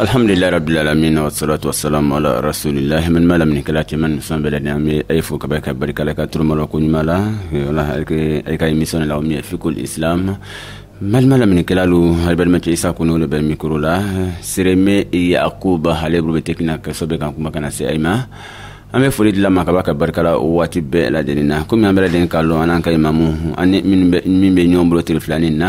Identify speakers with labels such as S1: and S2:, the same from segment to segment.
S1: alhamdulilayi
S2: rabbil alamin wa salatu wa salam ala rasulillahi n balima laminikɛla cɛman musoman bɛɛ lajɛlen an bɛ ayi fo kaba ka barika la ka tulomalɔ ko ɲuman la wala ayi ka émission la o min ye fikihul islam n balima laminikɛlalu alu balimacɛ isa kono le bɛ mikro la sereme yakuba ale bolo bɛ tekiniki na kosɛbɛ k'an kumakan nase ayi ma an bɛ foli di ala ma kaba ka barika la o waati bɛɛ lajɛlen na komi an bɛɛ lajɛlen k'a lɔn an n'an ka imamu ani min bɛ ɲɔgɔn bolo tile filanin na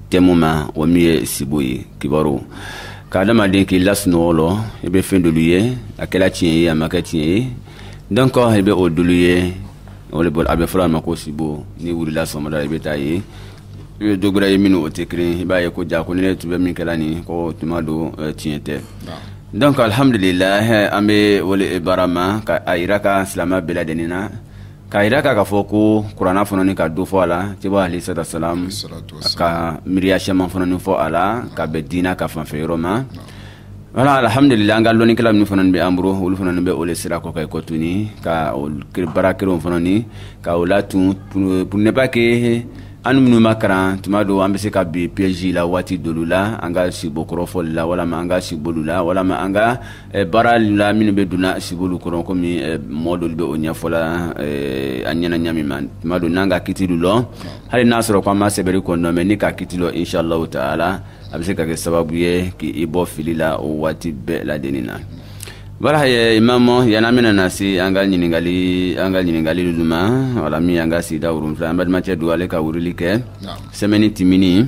S2: tɛmu ma o min ye sibo ye kibaru ka adamaden k'i la sunɔgɔ lɔ i bɛ fɛn dɔlu ye a kɛra tiɲɛ ye a ma kɛ tiɲɛ ye donc i bɛ o dɔlu ye o le bolo a bɛ fɔr'a ma ko sibo n'i wulila sɔgɔmada i bɛ taa ye i bɛ dɔ ye minnu o tɛ kelen i b'a ye ko jaa ko nin ne tun bɛ min kɛla nin ko tuma dɔ eh, tiɲɛ tɛ donc alhamdulilah eh, an bɛ o le baara ma ka a jira ka silamɛ bɛɛ lajɛlen na k'a jira k'a ka fɔ ko kurana fɔnɔni ka dɔ fɔ a la ciba alayhi salatu wasalam ka miiriya sɛman fɔnɔni fɔ a la ka bɛn diina ka fanfɛ yɔrɔ ma wala alhamdulillah an ka lɔnnikɛla minnu fana bɛ an bolo olu fana bɛ o le sira kɔ ka kɔ tuguni ka baara kelenw fana ni ka o latun pour ne pas que an minnu ma karan tuma dɔ an bɛ se ka bi piège la waati dɔlu la an ka sibo kɔrɔ fɔli la walama an ka sibolu la walama an ka baara la minnu bɛ donna sibolu kɔnɔ kɔmi mɔ dɔ bɛ o ɲɛfɔla an ɲɛna ɲa min ma tuma dɔ n'an ka kiti lɔn hali n'a sɔrɔ ko an ma sɛbɛnri kɔnɔ mais n'i ka kiti lɔn insala taala a bɛ se ka kɛ sababu ye k'i bɔ fili la o waati bɛɛ ladɛnnin na wala ye imamu yanana min na se an ka ɲininkali an ka ɲininkalilu ma wala min an ka sigida fila an balimacɛ don ale ka weleli kɛ semaine tɛmɛnin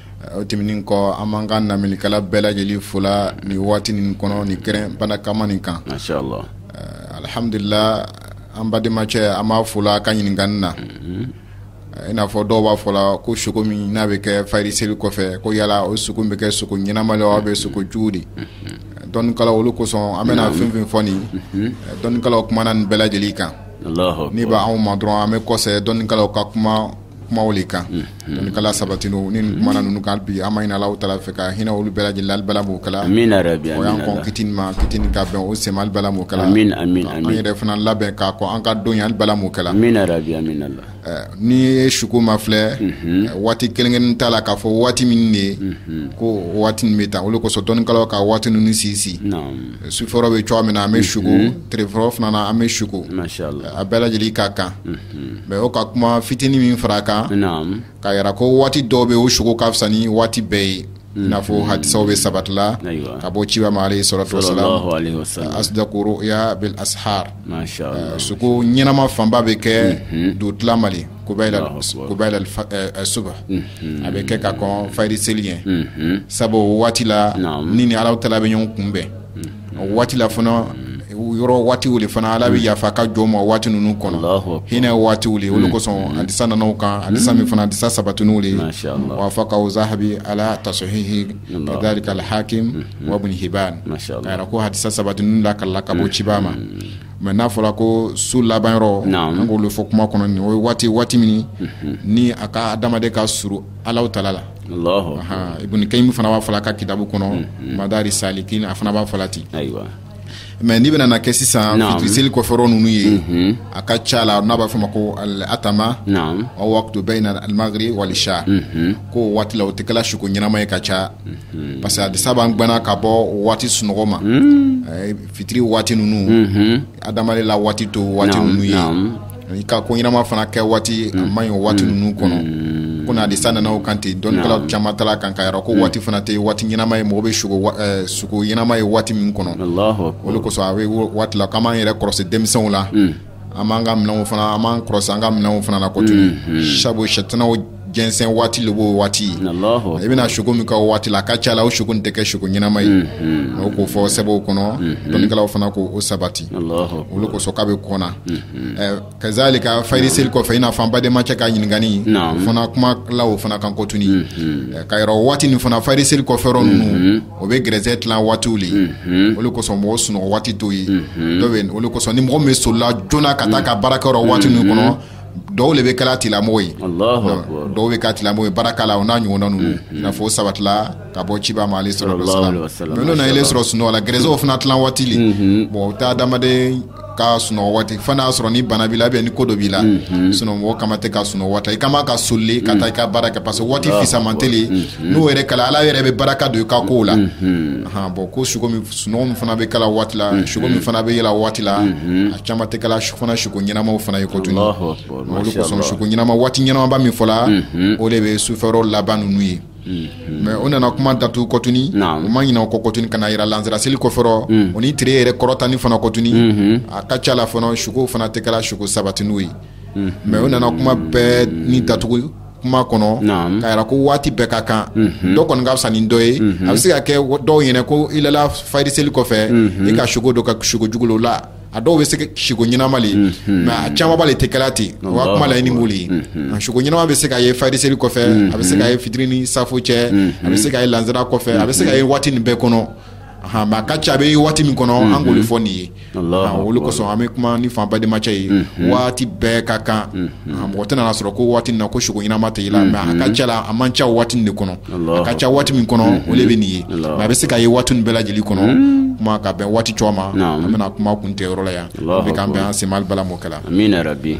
S3: O tɛmɛnen kɔ an b'an ka laminikɛla bɛɛ lajɛlen fo la nin waati nin kɔnɔ nin kɛnɛ barikama nin kan, masha Allah,
S2: alhamdulila
S3: an balimacɛ an b'a fo la a ka ɲininkali la, unhun, i n'a fɔ dɔw b'a fɔ la ko sugo min n'a bɛ kɛ fajiri seli kɔfɛ ko yala o sugo bɛ kɛ sugo ɲɛnama ye wa ou bien sugo jugu de, unhun, dɔnnikɛlaw o le kosɔn an bɛna fɛn o fɛn fɔ nin ye dɔnnikɛlaw kumana nin bɛɛ lajɛlen kan, Alahu akibaru, min b'anw
S2: ma dɔrɔn
S3: an bɛ kɔsegin dɔnnikɛlaw ka kuma kumaw le kan kala sabati ni mana ninnu kan bi an b'a ɲinina alahu taala fɛ ka hinɛ olu bɛɛ lajɛlen la ala m'o kɛla fitinin
S2: ma fitinin
S3: ka bɛn o se ma ala m'o kɛla an yɛrɛ
S2: fana
S3: labɛn k'a kɔ an ka don yan ala m'o kɛla
S2: n'i ye
S3: suko ma filɛ waati kɛrɛnkɛrɛn t'a la k'a fɔ waati min de ye ko waati bɛ taa o le kosɔn dɔnnikɛlaw ka waati ninnu sinsin
S2: sufɛrɔ bɛ cogoya
S3: min na an bɛ sugo tilefɛrɔ fana na an bɛ sugo a bɛɛ
S2: lajɛlen ka
S3: kan mais o ka kuma fitinin min fara a kan ka yira ko waati
S2: dɔw bɛ
S3: o sugo ka fisa ni waati bɛɛ ye i n'a fɔ hadisaw bɛ sabatila ka bɔ ciba ma alayhi salatu wasalam asdaku ruya bil ashar sugo ɲɛnama fanba bɛ kɛ dugutila ma le subh a bɛ kɛ ka kɔn fayiri seli ɲɛ sabu o waati la ni ni ala tala bɛ ɲɔgɔn kunbɛn o waati la fana yɔrɔ waatiw le fana ala bɛ yafa ka jɔn ma o waati ninnu kɔnɔ hinɛ waatiw le o le kosɔn hadisa nana o kan hadisa min fana hadisa sabatininw le wafaqahu zahabi ala tashihi kazalika al-hakim wa ibn hibban k'a yira ko hadisa sabatininw la ka la ka bɔ ciba ma Mais n'a fɔra ko su laban yɔrɔ an k'o le fɔ kuma kɔnɔ nin o ye waati waati min ni a ka adamaden ka surun ala tala la Ibn Kayyim fana b'a fɔ a ka kitabu kɔnɔ Madariju Salikin a fana b'a fɔ ten mais n'i bɛna na kɛ sisan fitiri seli kɔfɛrɔ ninnu ye a ka ca la n'a b'a fɔ ma ko al-atama waqtu bayna al-maghrib wal isha ko o waati la o tɛ kɛla suko ɲɛnama ye ka ca parce que hadisa b'an gɛnna ka bɔ waati sunɔgɔ ma Fitiri waati ninnu adamaden la waati t'o waati ninnu ye i ka ko ɲɛnama fana kɛ waati a man ɲi o waati ninnu kɔnɔ ko na hadisa nana o kan ten dɔnnikɛla caman taala o kan k'a yira ko o waati fana tɛ waati ɲɛnama ye mɔgɔ bɛ suko ɲɛnama ye waati min kɔnɔ o le kosɔn a bɛ o waati la k'an b'an yɛrɛ kɔlɔsi denmisɛnw la an b'an ka minɛnw fana an b'an kɔlɔsi an ka minɛnw fana na kɔtun sabu sɛtanaw jɛnsɛn waati le b'o waati i bɛna suko min kɛ o waati la a ka ca la o suko tɛ kɛ suko ɲɛnama ye o k'o fɔ sɛbɛnw kɔnɔ dɔnnikɛlaw fana k'o sabati o le kosɔn k'a bɛ kɔnna kazalika fayiri seli kɔfɛ i n'a fɔ an badenma cɛ ka ɲininkali fana kumana o fana kan kɔtun k'a yira o waati nin fana fayiri seli kɔfɛ ninnu o bɛ gɛrɛsɛgɛ tilan waatiw le o le kosɔn mɔgɔw sunɔgɔ waati t'o ye dɔw bɛ yen o de kosɔn ni mɔgɔ min bɛ solila joona ka taa ka baarakɛ yɔrɔ waati ninnu kɔnɔ dɔw le bɛ kɛla tilamɔgɔ ye Alahu akibaru. Donc, dɔw bɛ kɛ tilamɔgɔ ye baraka la o n'a ɲɔgɔnna ninnu i n'a fɔ o sabatila ka bɔ ciba ma alaihi salatu wasallam Sallallahu alaihi wasallam. mais n'o na ile sɔrɔ sunɔgɔ la gɛrɛsɛgɛw fana tilan waati le bon o tɛ adamaden ka sunɔgɔ waati fo n'a y'a sɔrɔ ni bana b'i la ni ko dɔ b'i la mhm. sinon mɔgɔ kama tɛ ka sunɔgɔ waati i kama ka soli le ka taa i ka baara kɛ parce que waati fisamantɛ le mhm. n'o yɛrɛ kɛla ala yɛrɛ bɛ baraka don i ka kow la mhm. bon ko suko min sunɔgɔ min fana bɛ kɛla o waati la suko min fana bɛ yela o waati la a caman tɛ kɛla fana suko ɲɛnamaw fana ye kɔtun o le kosɔn suko ɲɛnama waati ɲɛnamaba min fɔla o le bɛ sufɛrɔ laban ninnu ye Mm-hmm. mais o nana kuma datugu kɔtuni u ma ɲinɛ o kɔ kɔtuni ka n'a yira lansara seli kɔfɛrɔ mm. o ni tere yɛrɛ kɔrɔtani fana kɔtuni mm-hmm. a ka ca la fana sukow fana tɛ kɛla suko sabatiniw ye mm-hmm. mais o nana kuma bɛɛ ni datugu kuma kɔnɔ k'a yira ko waati bɛɛ ka kan mhm. dɔ kɔni ka fisa ni dɔ ye mhm. a bɛ se ka kɛ dɔw ɲɛna ko i lala fayiri seli kɔfɛ mhm. i ka sugo dɔ ka sugo jugulo la a dɔw bɛ se siko ɲɛnama le ye mais a camanba le tɛ kɛla ten o ka kuma laɲini b'o le ye nka siko ɲɛnama bɛ se ka ye fajiri seri kɔfɛ a bɛ se ka ye fitiri ni safo cɛ a bɛ se ka ye lansara kɔfɛ a bɛ se ka ye waati nin bɛɛ kɔnɔ ahan, mais a ka ca a bɛ ye waati min kɔnɔ an k'o le fɔ nin ye Alahu Ahan, o le kosɔn an bɛ kuma nin f'an badenmacɛ ye waati bɛɛ ka kan ahan, mɔgɔ tɛna n'a sɔrɔ ko waati nin na ko siko ɲɛnama tɛ yela mais a ka ca la a man ca o waati nin de kɔnɔ a ka ca waati min kɔnɔ o le bɛ nin ye mais a bɛ se ka ye waati nin bɛɛ lajɛlen kɔnɔ kuma ka bɛn waati cogo ma an bɛna kuma kuntɛ yɔrɔ la yan bɛ k'an bɛn an se mali bala m'o kɛla amina ya rabbi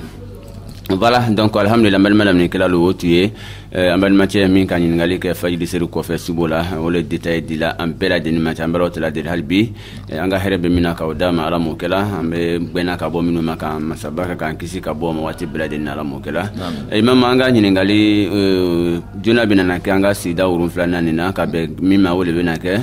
S2: voilà donc alhamdulillah badenma lamɛnnikɛlalu o tun ye eh, an badenmacɛ min ka ɲiningali kɛ fajiri seri kɔfɛ subo la o le détail dila an bɛɛ lajɛlen ma cɛ an b'ala taala deli hali bi an ka hɛrɛ bɛ min na k'a d'an ma ala m'o kɛla an bɛ gbɛnna ka bɔ minnu ma ka masaba ka k'an kisi ka b'o ma waati bɛɛ lajɛlen na ala m'o kɛla imam an ka ɲininkali joona bɛ nana kɛ an ka sigida wolonfilanan nin na ka bɛn min ma o le bɛna kɛ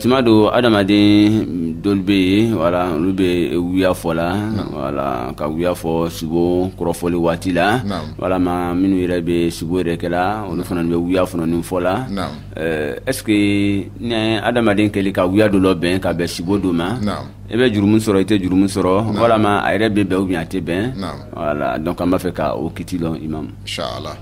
S2: tuma dɔ adamaden dɔlu bɛ yen wala olu bɛ wuya fɔla wala ka wuya fɔ subo kɔrɔfɔli waati la walama minnu yɛrɛ bɛ subo yɛrɛ kɛla olu fana bɛ wuya fana nin fɔla Ɛɛ est ce que ni adamaden kɛli ka wuya dɔ labɛn ka bɛn sibo dɔ ma, naamu, i bɛ jurumu sɔrɔ i tɛ jurumu sɔrɔ, naamu, walama a yɛrɛ bɛ bɛn ou bien a tɛ bɛn, naamu, voilà donc an b'a fɛ ka o kiti lɔn imam, inchallah,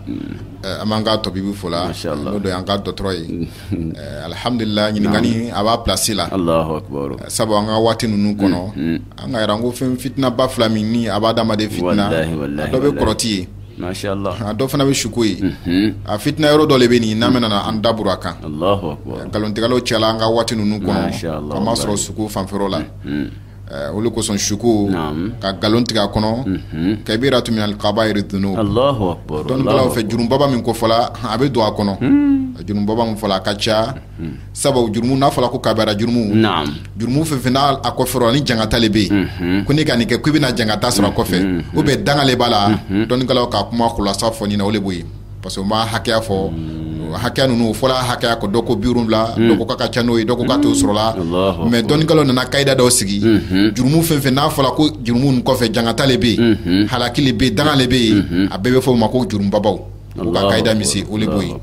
S3: ɛɛ an b'an ka tabibu fola, mashallah, n'o de y'an ka dɔgɔtɔrɔ ye, ɛɛ alihamudulila ɲininkali a b'a place la, alahu
S2: akbaru, sabu an ka waati ninnu
S3: kɔnɔ, unhun, an ka yɛrɛ an ko fɛn fitinaba fila min ni a b'a hadamaden fitina, walahi walahi, a dɔ bɛ kɔrɔti ye a
S2: dɔ fana bɛ
S3: suko ye a fitina yɔrɔ dɔ le bɛ nin n'an bɛ nana an daburu a
S2: kan nkalontigɛlaw cɛla an ka
S3: waati ninnu kɔnɔ a masɔrɔ suko fanfɛla la o le kosɔn suko ka nkalon tigɛ a kɔnɔ kabiratun min al-kabairi dhunub
S2: dɔnnikɛlaw fɛ jurumubaba
S3: min kofɔla a bɛ don a kɔnɔ jurumubaba min fɔla a ka ca hmm. sabu jurumu n'a fɔla ko kabira jurumu jurumu fɛn fɛn n'a a kɔfɛ ni jangata le bɛ yen hmm. ko n'i ka nin kɛ ko i bɛna jangata sɔrɔ a kɔfɛ hmm. ou bien danga le b'a la dɔnnikɛlaw ka kuma kulasa fɔ nin na o le b'o ye parce que u ma hakɛya fɔ hakɛya ninnu fɔla hakɛya ko dɔ ko biwolonwula dɔ ko k'a ka ca n'o ye dɔ ko k'a t'o sɔrɔla mais dɔnnikɛlaw nana kayida dɔw sigi jurumu fɛn fɛn n'a fɔla ko jurumu kɔfɛ jangata le bɛ yen halaki le bɛ yen danga le bɛ yen a bɛɛ bɛ fɔ o ma ko jurumubabaw U ka kayida min sigi o le b'o ye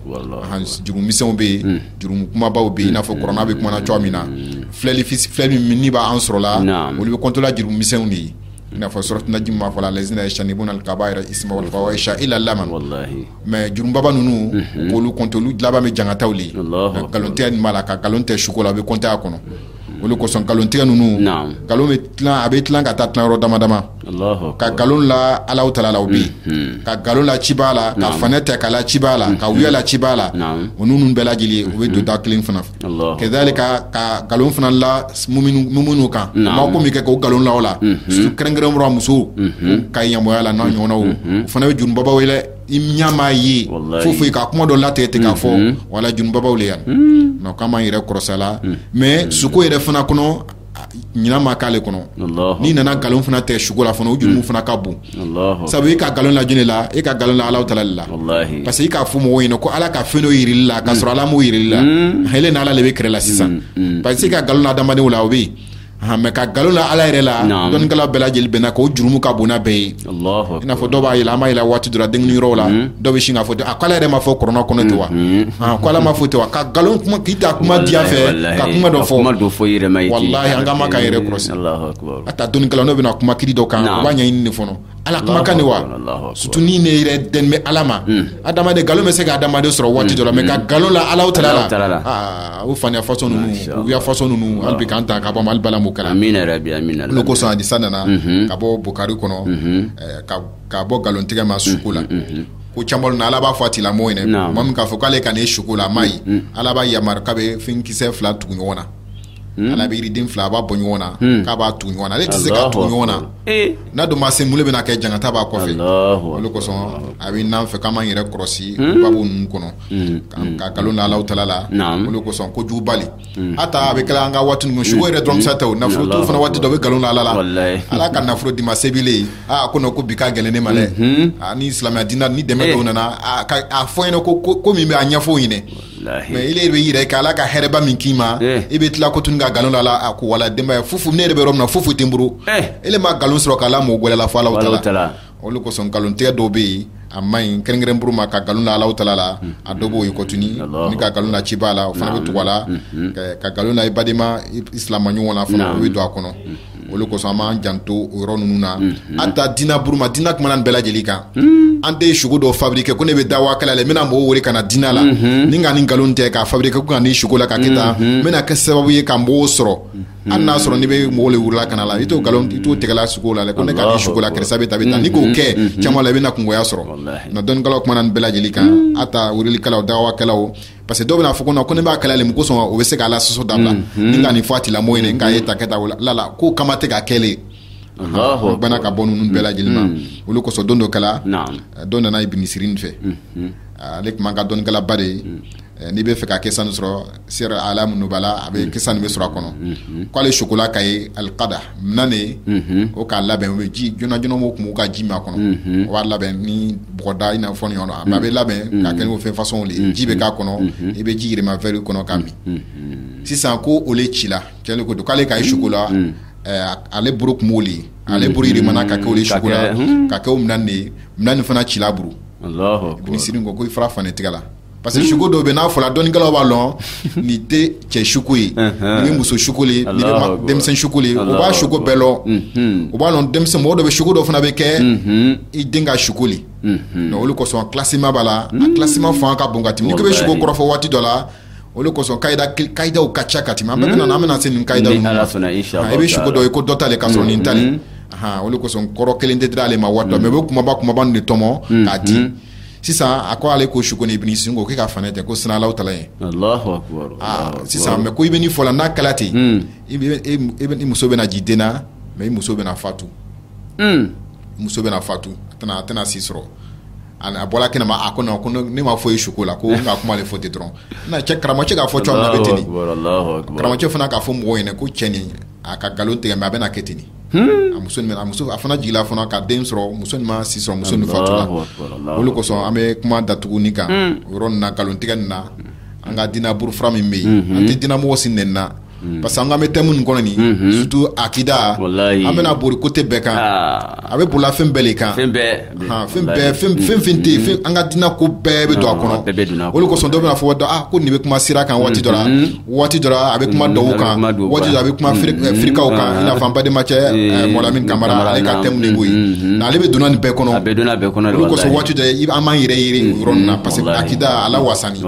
S3: jurumu misɛnw bɛ yen jurumu kumabaw bɛ yen i n'a fɔ kurana bɛ kumana cogoya min na filili fili min ni b'an sɔrɔla olu bɛ kɔntela jurumu misɛnw de ye i n'a fɔ suratu najm ma fɔla allazina yajtanibuna kabaira al-ismi illa lamam mais jurumubaba ninnu k'olu kɔnte olu laban bɛ jangataw le nkalontɛ nin b'a la ka nkalon tɛ suko la a bɛ kɔnte a kɔnɔ o le kosɔn nkalontigɛ ninnu nkalon bɛ tilan a bɛ tilan ka taa tilayɔrɔ dama dama ka nkalon la alahu taala la o bɛ yen ka nkalon la ciba la ka faniya tɛ k'a la ciba la ka wuya la ciba la o ninnu bɛɛ lajɛlen u bɛ don da kelen fana fɛ kazalika ka nkalon fana la muminu kan a ma ko min kɛ k'o nkalon la o la kɛrɛnkɛrɛn buru ma musow ka ɲamɔya la n'a ɲɔgɔnnaw o fana bɛ jurumubabaw ye dɛ i ɲa ma ye fo fo i ka kuma dɔ latigɛ ten k'a fɔ mhm. wala jurumubabaw le yan mhm. nka k'an b'an yɛrɛ kɔrɔsa la mhm. mais suko yɛrɛ fana kɔnɔ ɲinan ma k'ale kɔnɔ n'i nana nkalon fana tɛ suko la fana o jurumu fana ka bon sabu i ka nkalon la jɔn le la e ka nkalon la alahu taala le la parce que i k'a fɔ mɔgɔw ɲɛna ko ala ka fɛn dɔ yir'ile la k'a sɔrɔ ala m'o yir'ile la ile n'ala le bɛ kɛlɛ la sisan parce que i ka nkalon la adamadenw la o bɛ yen mais ka nkalon la ala yɛrɛ la dɔnnikɛla bɛɛ lajɛlen bɛnna k'o jurumu ka bon n'a bɛɛ ye i n'a fɔ dɔw b'a yela an b'a yela waati dɔ la denkunli yɔrɔ la hmm. dɔw bɛ sin k'a fɔ a ko ala yɛrɛ m'a fɔ kurana kɔnɔ ten wa hmm, hmm. ko ala m'a fɔ ten wa ka nkalon kuma k'i ta kuma diya fɛ ka kuma dɔ fɔ walahi an ka ma k'an yɛrɛ kɔlɔsi hata dɔnnikɛla n'o bɛna kuma kiti dɔ kan u b'a ɲɛɲini de fɔlɔ ala kumakan de wa surtout ni ne yɛrɛ dɛn bɛ ala ma adamaden nkalon bɛ se ka adamaden sɔrɔ waati dɔ la mais ka nkalon la alahu taala la o faniya façon ninnu wuya façon ninnu hali bi k'an ta ka bɔ mali bala mo kɛra o le kosɔn hadisa nana ka bɔ bukari kɔnɔ ka bɔ nkalon tigɛ ma suko la ko kiyama lon na ala b'a fɔ a tigilamɔgɔ ɲɛna maa min k'a fɔ k'ale ka nin ye suko la a m'a ye ala b'a yamaruya k'a bɛ finikisɛ fila tugu ɲɔgɔn na Ala bɛ yiriden fila a b'a bɔ ɲɔgɔn na k'a b'a tugu ɲɔgɔn na ale tɛ se k'a tugu ɲɔgɔn na n'a dun ma se mun le bɛna kɛ jankata b'a kɔfɛ o le kosɔn a bɛ n'an fɛ k'an b'an yɛrɛ kɔlɔsi babu ninnu kɔnɔ ka nkalon la alahu taala la o le kosɔn kojuguba le hata a bɛ kɛla an ka waati suko yɛrɛ dɔrɔn sa tɛ nafolotigi fana waati dɔ bɛ nkalon la ala la ala ka nafolo d'i ma se b'i ye ko non ko bi ka gɛlɛn ne ma dɛ ni silamɛya diini dɛmɛ nana a fɔ ɲɛna ko ko min bɛ a ɲɛfɔ ɲini mais ile bɛ i yɛrɛ kɛ ala ka hɛrɛba min k'i ma eh. i bɛ tila kotuni ka nkalon la ala la a ko wala denbaya fufu ne yɛrɛ bɛ yɔrɔ min na fufu tɛ n bolo eh. ile ma nkalon sɔrɔ k'a la mɔgɔ gɛrɛ la fo alahu taala o le kosɔn nkalon tigɛ dɔw bɛ yen a ma ɲi kɛrɛnkɛrɛn buru ma ka nkalon la alahu taala la hmm. a dɔw b'o ye kotuni n'i ka nkalon la ciba la o fana bɛ tugu a la hmm. ka nkalon la i badema i silamɛ ɲɔgɔn na fana o bɛ don a kɔnɔ hmm. O le kosɔn an b'an janto o yɔrɔ ninnu na hata diinɛ buru ma diinɛ kumana nin bɛɛ lajɛlen kan an tɛ suko dɔ fabriquer ko ne bɛ daawa la n bɛna mɔgɔw wele ka na diinɛ la ni n ka nin nkalon tɛ k'a fabriquer ko n ka nin suko la k'a kɛ tan n bɛna kɛ sababu ye ka mɔgɔw sɔrɔ hali n'a sɔrɔ n bɛ mɔgɔw welela ka na la i t'o nkalon i t'o tɛgɛla suko la ko ne ka suko la kɛrɛsa bɛ ta taa n'i k'o kɛ caman la i bɛna na kungoya sɔrɔ na dɔnnikɛlaw kumana nin bɛɛ lajɛlen kan hata welelikɛlaw daawakɛlaw parce que dɔw bɛna fɔ ko ko ne b'a kɛla le mun kosɔn o bɛ se k'a la sɔsɔ dabila mm, mm. ni ka nin fɔ a tigilamɔgɔ ɲɛna k'a ye ta kɛ ta lala ko kama tɛ ka kɛlen bana ka bɔ ninnu bɛɛ lajɛlen ma mm. o le kosɔn don dɔ kɛla dɔ nana Ibn Sirin fɛ mm-hmm. ale tun b'an ka dɔnnikɛlaba de ye eh, n'i bɛ fɛ ka kisa nin sɔrɔ Siyar A'lam Nubala a bɛ kisa nin bɛ sɔrɔ a kɔnɔ mm-hmm. k'ale sukola ka ye alikada o k'a labɛn bɛ ji joona joona o tun ka ji min a kɔnɔ o b'a labɛn ni bɔgɔda i n'a fɔ ɲɔgɔn a bɛ labɛn ka kɛ o fɛn façon de ji bɛ k'a kɔnɔ i bɛ ji yɛlɛma verre kɔnɔ k'a min sisan ko o cila cɛn ko don k'ale ka ye suko la ale buru tun b'o ale buru yɛlɛmana ka kɛ suko la ka kɛ o minɛn de ye minɛn nin fana cila buru Ibn Sirin ko i fara fani tigɛ la parce que hmm. suko dɔw bɛ n'a fɔla dɔnnikɛlaw b'a lɔn nin tɛ cɛ suko ye nin bɛ muso suko le nin bɛ denmisɛn suko le o b'a suko bɛɛ lɔn hmm. o b'a lɔn denmisɛn mɔgɔ dɔ bɛ suko dɔ fana bɛ kɛ hmm. i den ka suko le donc o le kosɔn classement b'a la a classement fanga ka bon ka tɛmɛ n'i ko bɛ suko kɔrɔfɔ waati dɔ la o de kosɔn kayida kayidaw ka ca ka tɛmɛ an bɛɛ bɛ na an bɛna se nin kayidaw ninnu ma i bɛ suko dɔ ye ko dɔ t'ale ka sɔrɔ nin t'ale o de kosɔn kɔrɔ kelen tɛ dira ale ma waati dɔ mais o bɛ kumaba kumaba nin de tɔmɔ k'a di. sisan a ko ale ko suko nin Ibn Sirin ko k'e ka fanɛ tɛ ko siran Alahu Taala ye ah, sisan mais ko i bɛ nin fɔla n'a kɛla ten hmm. i muso bɛna ji den na mais i muso bɛna fatu hmm. muso bɛna fatu a tɛna si sɔrɔ a bɔla kɛnɛ ma a ko non ko ne ma foyi ye suko la ko n ka kuma le fɔ ten dɔrɔn na cɛ karamɔgɔcɛ k'a fɔ cogoya min na a bɛ ten de karamɔgɔcɛ fana k'a fɔ mɔgɔw ɲɛna ko cɛ nin a ka nkalon tigɛ mais a bɛna kɛ ten de a muso a fana jigila fana ka den sɔrɔ muso nin ma si sɔrɔ muso nin fatula o le kosɔn an bɛ kuma datuguni kan o yɔrɔ nin na nkalon tigɛ nin na an ka dina bolofara min bɛ yen an tɛ dinamɔgɔ si nɛni na parce que an kan bɛ thème nin kɔnɔ nin surtout akida an bɛna boli côté bɛɛ kan a bɛ bolila fɛn bɛɛ le kan fɛn bɛɛ fɛn fɛn fɛn tɛ yen an ka diinɛ ko bɛɛ bɛ don a kɔnɔ bɛɛ bɛ don a kɔnɔ o de kosɔn dɔ bɛna fɔ dɔn ah ko nin bɛ kuma sira kan waati dɔ la waati dɔ la a bɛ kuma dɔw kan waati dɔ a bɛ kuma firikaw kan i n'a fɔ an bademacɛ mɔlamin kamara ale ka thème de b'o ye nka ale bɛ donna nin bɛɛ kɔnɔ a bɛ donna bɛɛ kɔnɔ o de kosɔn waati dɔ an b'an yɛrɛ yiri yɔrɔ nin na parce que akida ala wasani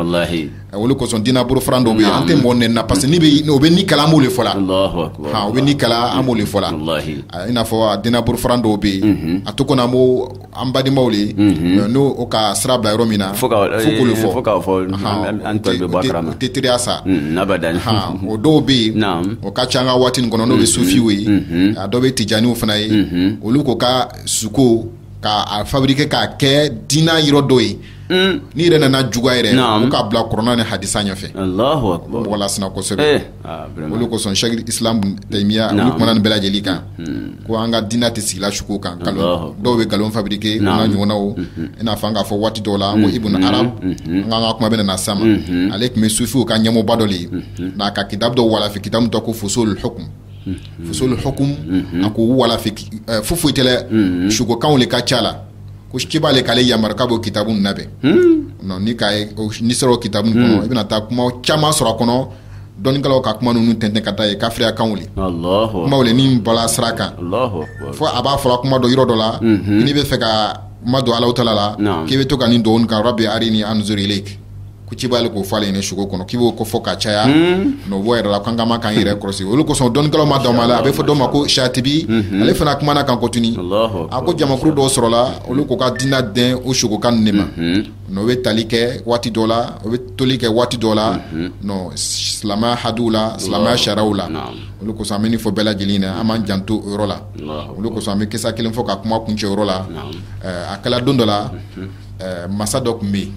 S3: A o le kosɔn dina bolofaran dɔw bɛ yen an tɛ mɔgɔ nɛni na parce que n'o bɛ nin kɛla an b'o le fɔ la o bɛ nin kɛla an b'o le fɔ la i n'a fɔ a dina bolofaran dɔw bɛ yen a to kɔnɔ an ko an badimaw de n'o ka sira bila yɔrɔ min na fo o le fɔ
S2: tɛ
S3: teriya sa o dɔw bɛ yen o ka ca an ka waati in kɔnɔ n'o bɛ sufiw ye a dɔw bɛ tijaaniw fana ye olu ko ka suko k'a fabriquer k'a kɛ dinɛ yɔrɔ dɔ ye mm. n'i yɛrɛ nana juguya yɛrɛ u k'a bila kuranɛ ni hadisa ɲɛfɛ mɔgɔ lasina kosɛbɛ eh, ah, o le kosɔn sheikh islam taymiya olu kumana nin bɛɛ lajɛlen kan mm. ko an ka dina tɛ sigila suko kan kalon dɔw bɛ galon fabriquer a n'a ɲɔgɔnnaw mm-hmm. i n'a fɔ an k'a fɔ waati dɔw la ko mm-hmm. ibn arab mm-hmm. an k'an ka kuma bɛ nana sama ale tun bɛ sufiw ka ɲɛmɔgɔba dɔ le ye n'a ka kitabu dɔ walafi kitabu dɔ ko fosolul hukum fosolul hukum a k'o walafi eh, foyi tɛ dɛ sukokanw le ka ca la ko ciba le k'ale yamaruya k'a b'o kitabu ninnu labɛn non n'i k'a ye o n'i sera o kitabu ninnu kɔnɔ i bɛna taa kuma caman sɔrɔ a kɔnɔ dɔnnikɛlaw ka kuma ninnu tɛntɛn ka t'a ye kafiriyakanw le Allahu kumaw le min bɔla sira kan Allahu akbar. fo a b'a fɔra kuma dɔ yɔrɔ dɔ la n'i b'a fɛ k'i madon Allahu taala la Naam. k'i bɛ to ka nin dugawu nin kan rabbi arini anzur ilayk ko ciba le k'o fɔ ale ɲɛna sugo kɔnɔ k'i b'o ko fɔ ka caya n'o bɔ yɛrɛ la k'an ka kan k'an yɛrɛ kɔlɔsi o le kosɔn dɔnnikɛlaw ma dama la a bɛ fɔ dɔ ma ko shatibi ale fana kumana kan kɔtini a ko jamakuru dɔw sɔrɔla olu k'u ka dina dɛn o sugokan ninnu de ma n'o bɛ tali kɛ waati dɔ la o bɛ toli kɛ waati dɔ la silamɛya hadiw la silamɛya sariyaw la o le kosɔn an b'a fɔ bɛɛ lajɛlen na an b'an janto o yɔrɔ la o le kosɔn an bɛ kisa kelen fɔ ka kuma kuncɛ o yɔrɔ la a kɛla don dɔ la masa dɔ tun bɛ yen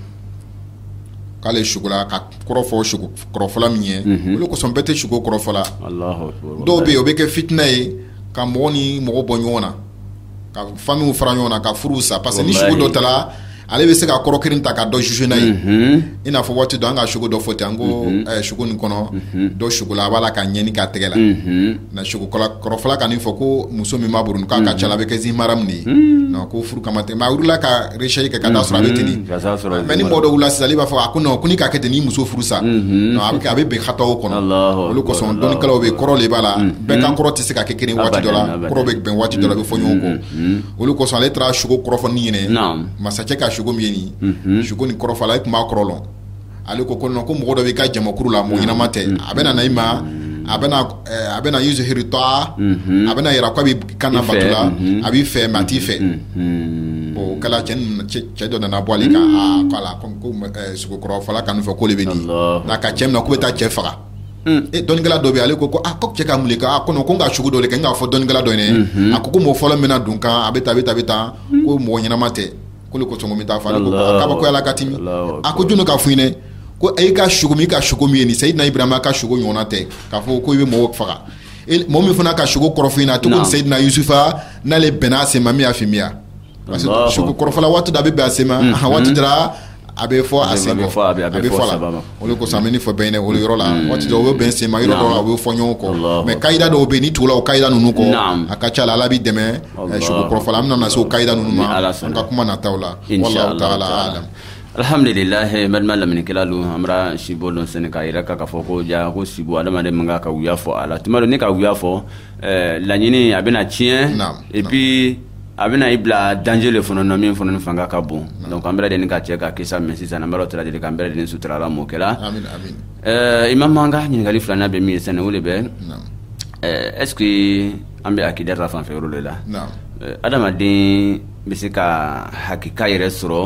S3: k'ale sukola k'a kɔrɔ fɔ suko kɔrɔfɔla min ye, unhun, o le kosɔn bɛɛ tɛ suko kɔrɔfɔla, Alahu akbar, dɔw bɛ yen u b'a kɛ fitina ye ka mɔgɔ ni mɔgɔ bɔ ɲɔgɔn na ka familles fara ɲɔgɔn na ka furuw sa parce que ni suko dɔ tala ale bɛ se ka kɔrɔ kelen ta ka dɔ juger n'a ye, unhun, i n'a fɔ waati dɔ an ka suko dɔ fɔ ten an ko ɛ suko nin kɔnɔ dɔ sukola a b'a la ka ɲɛgɛnɛ k'a tɛgɛ la, unhun mais sugo kɔrɔfɔla ka nin fɔ ko muso min b'a bolo k'a ka ca la a bɛ kɛ zi maharam de ye k'o furu kama tɛ a wulila ka recherche kɛ ka t'a sɔrɔ a bɛ ten mais ni mɔgɔ dɔ wulila sisan a b'a fɔ a ko ko n'i k'a kɛ ten n'i muso furu sa a bɛ kɛ a bɛ bɛn hata kɔnɔ o le kosɔn dɔnnikɛlaw bɛ kɔrɔ de b'a la bɛɛ kan kɔrɔ tɛ se ka kɛ kelen waati dɔ la kɔrɔ bɛ bɛn waati dɔ a bɛ fɔ ɲɔgɔn kɔ o le kosɔn ale taara sugo kɔrɔfɔ ɲini masakɛ ka min ye nin sugo nin kɔrɔfɔla e tun b'a kɔrɔ lɔn ale ko ko ko mɔgɔ dɔ b'i ka jamakuru la mɔgɔ ɲɛnama tɛ a bɛ na i ma a a bɛna yuzhiru ta'a a bɛna yira ko a b'i kan bato la a b'i fɛ mais a t'i fɛ o kɛla cɛ dɔ nana bɔ ale kan ko a la sugo kɔrɔfɔla kan fɛ k'o le bɛ nin n'a ka cɛ minɛ k'u bɛ taa cɛ faga e dɔnnikɛla dɔ bɛ ale kɔrɔ ko cɛ ka mun kɛ ko ko n ka sugo dɔ de kɛ k'a fɔ dɔnnikɛla dɔ ye a ko ko mɔgɔ fɔlɔ min bɛna don n kan a bɛ taa bɛ taa bɛ taa ko mɔgɔ ɲɛnama tɛ k'o kosɔn bɛ taa fɔ kabakoyala ka tɛmɛ a ko jɔn k'a fɔ i ɲɛna ko e ka sugo min ka sugo min ye nin sayidina ibrahima ka sugo ɲɔgɔn tɛ k'a fɔ ko i bɛ mɔgɔw faga mɔgɔ min fana ka sugo kɔrɔ fɔ i ɲɛna a tɔgɔ sayidina yusufa n'ale bɛnna a sen ma min y'a faamuya parce que sugo kɔrɔfɔla waati dɔ a bɛ bɛn a sen ma waati a bɛ fɔ a bɛ fɔ la O de kosɔn an bɛ nin fɔ bɛn o yɔrɔ la hmm. waati dɔ o bɛ bɛn senma yɔrɔ dɔ a bɛ fɔ ɲɔgɔn kɔ mɛ kayida dɔw bɛ ni tugula o kayida ninnu kɔ a ka ca la a b'i dɛmɛ eh, sugo kɔrɔfɔ la an bɛna se o kayida ninnu ma an ka kuma nataw la wallahu taala alam
S2: alihamdulilahi balima lamɛnnikɛlalu an bara sibo dɔn sɛnɛ k'a yira ka ka fɔ ko ja ko sibo adamaden man kan ka wuya fɔ a la tuma dɔ n'i ka wuya fɔ eh, laɲini a bɛna tiɲɛ epi a bɛna i bila danger le fana na min fana ni fanga ka bon donc an bɛɛ lajɛlen ka cɛ ka kisi a ma sisan an b'Ala taala deli k'an bɛɛ lajɛlen sutura ala m'o kɛla eh, imam an ka ɲininkali filanan bɛ min ye sani o de bɛ eh, est ce que an bɛ akida ta fanfɛ yɔrɔ de la eh, adamaden bɛ se ka hakika yɛrɛ sɔrɔ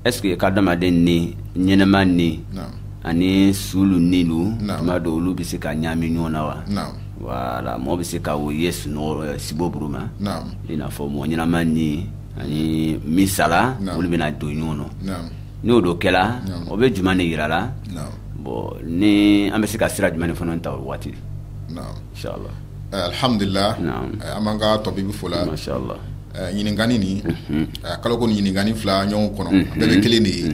S2: est ce que ka adamaden ni ɲɛnama ni ani sulu nilu tuma dɔw olu bɛ se ka ɲaami ɲɔgɔn na wa wala mɔgɔ bɛ se ka o ye sunɔgɔ sibo buru ma i n'a fɔ mɔgɔ ɲɛnama ni ani min sala olu bɛna don ɲɔgɔn nɔ n'o don kɛla o bɛ jumɛn de yira la bon ni an bɛ se ka sira jumɛn fana ta o waati
S3: inshallah alhamdulillah an b'an ka tɔbibi fo la
S2: inshallah
S3: ɲininkani nin k'a lɔn ko ɲininkani fila ɲɔgɔn kɔnɔ bɛɛ bɛ kelen de ye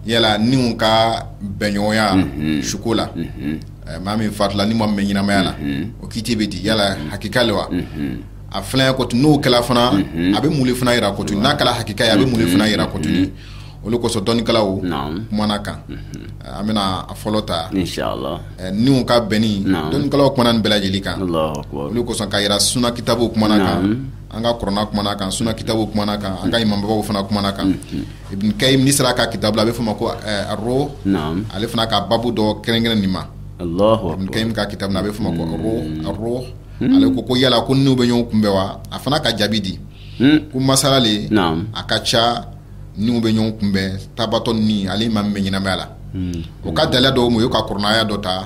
S3: yala niw ka bɛnɲɔgɔnya suko la Maa min fatula ni maa min bɛ ɲɛnamaya la o kiti bɛ di yala hakika le wa a filɛ ko n'o kɛla fana a bɛ mun le fana yira ko n'a kɛla hakika ye a bɛ mun le fana yira kɔtun o le kosɔn dɔnnikɛlaw kumana kan an bɛna a fɔlɔ ta
S2: niw ka
S3: bɛnni dɔnnikɛlaw kumana nin bɛɛ lajɛlen kan o le kosɔn ka yira sunna kitabu kumana kan an ka kurana kumana kan sunna kitabu kumana kan an ka imamubaw fana kumana kan ibn kayyim ni sera ka kitabu la a bɛ fɔ ma ko aro ale fana ka baabu dɔ kɛrɛnkɛrɛn nin ma ibn kayyim ka kitabu la a bɛ fɔ ma ko aro ale ko ko yala ko niw bɛ ɲɔgɔn kunbɛn wa a fana ka jaabi di ko masala le a ka ca niw bɛ ɲɔgɔn kunbɛn tabatɔ ni ale maa min bɛ ɲɛnamaya la o ka dalilu dɔw ma u y'o ka kurana aya dɔ ta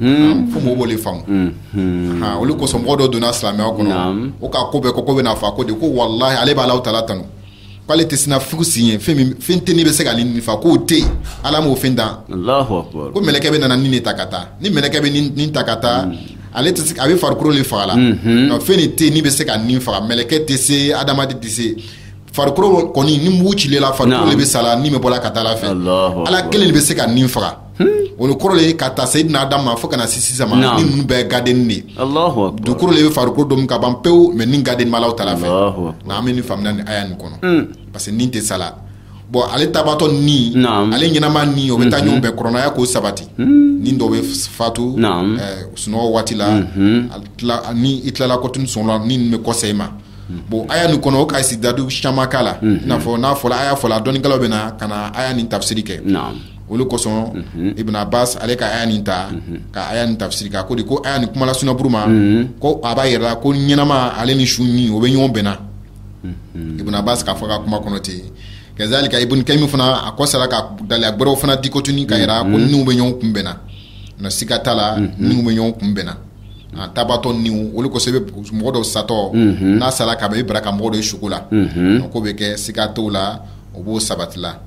S3: Hmm. fo mɔgɔw b'o de faamu hmm. Hmm. o de kosɔn mɔgɔ dɔ donna silamɛya kɔnɔ o k'a ko bɛɛ ko ko bɛna fɔ a ko de ko walahi ale b'a Alahu taala tanu k'ale tɛ siran fugu si ɲɛ fɛn min fɛn tɛ ni bɛ se k'ale ni fa k'o tɛ yen ala m'o fɛn dan ko mɛlɛkɛ bɛ na ni de ta ka taa ni mɛlɛkɛ bɛ ni ta ka taa ale tɛ se a bɛ farikolo de faga la nka fɛn de tɛ yen min bɛ se ka ni faga mɛlɛkɛ tɛ se adamaden tɛ se farikolo kɔni ni mugu cilen la farikolo de bɛ sa la ni bɛ bɔ la ka taa ala fɛ ala kelen de bɛ se ka ni faga o le kɔrɔ le ka ta seyidina adam ma fo ka na se sisan ma ni ninnu bɛɛ gadeni de dugukolo le bɛ farikolo domi ka ban pewu mɛ ni gadeni b'Alahu taala fɛ nka an bɛ nin faamuna ni aya nin kɔnɔ hmm. parce que ni tɛ sala bon ale tabatɔ ni ale ɲɛnama ni o bɛ taa ɲɔgɔn bɛn kurana aya k'o sabati hmm. ni dɔ bɛ fatu eh, sunɔgɔ waati la hmm. ni i tilala kɔtun sunɔgɔ la ni nin bɛ kɔsegi i ma bon aya nin kɔnɔ o ka sidadu caman k'a la i n'a fɔ n'a fɔla aya fɔla dɔnnikɛlaw bɛ na ka na aya nin tafsiri kɛ olu kosɔn Ibn Abbas ale ka aya nin ta ka aya nin tafsiri ko de ko ni kuma sunuru ma ko a b'a jira ko ɲɛnama ale ni su ni o bɛ ɲɔgɔn bɛnna Ibn Abbas k'a fɔ ka kuma kɔnɔ ten kazalika Ibn Qayyim fana a ko sara ka dalilu gwɛrɛw fana di kɔtuni ka jira ko niw bɛ ɲɔgɔn kun bɛnna na siga t'a la niw bɛ ɲɔgɔn kun bɛnna a tabatɔ niw olu kosɔn mɔgɔ dɔ satɔ n'a sara ka i bara ka mɔgɔ dɔ ye suko la ko bɛ kɛ siga t la o b'o sabatila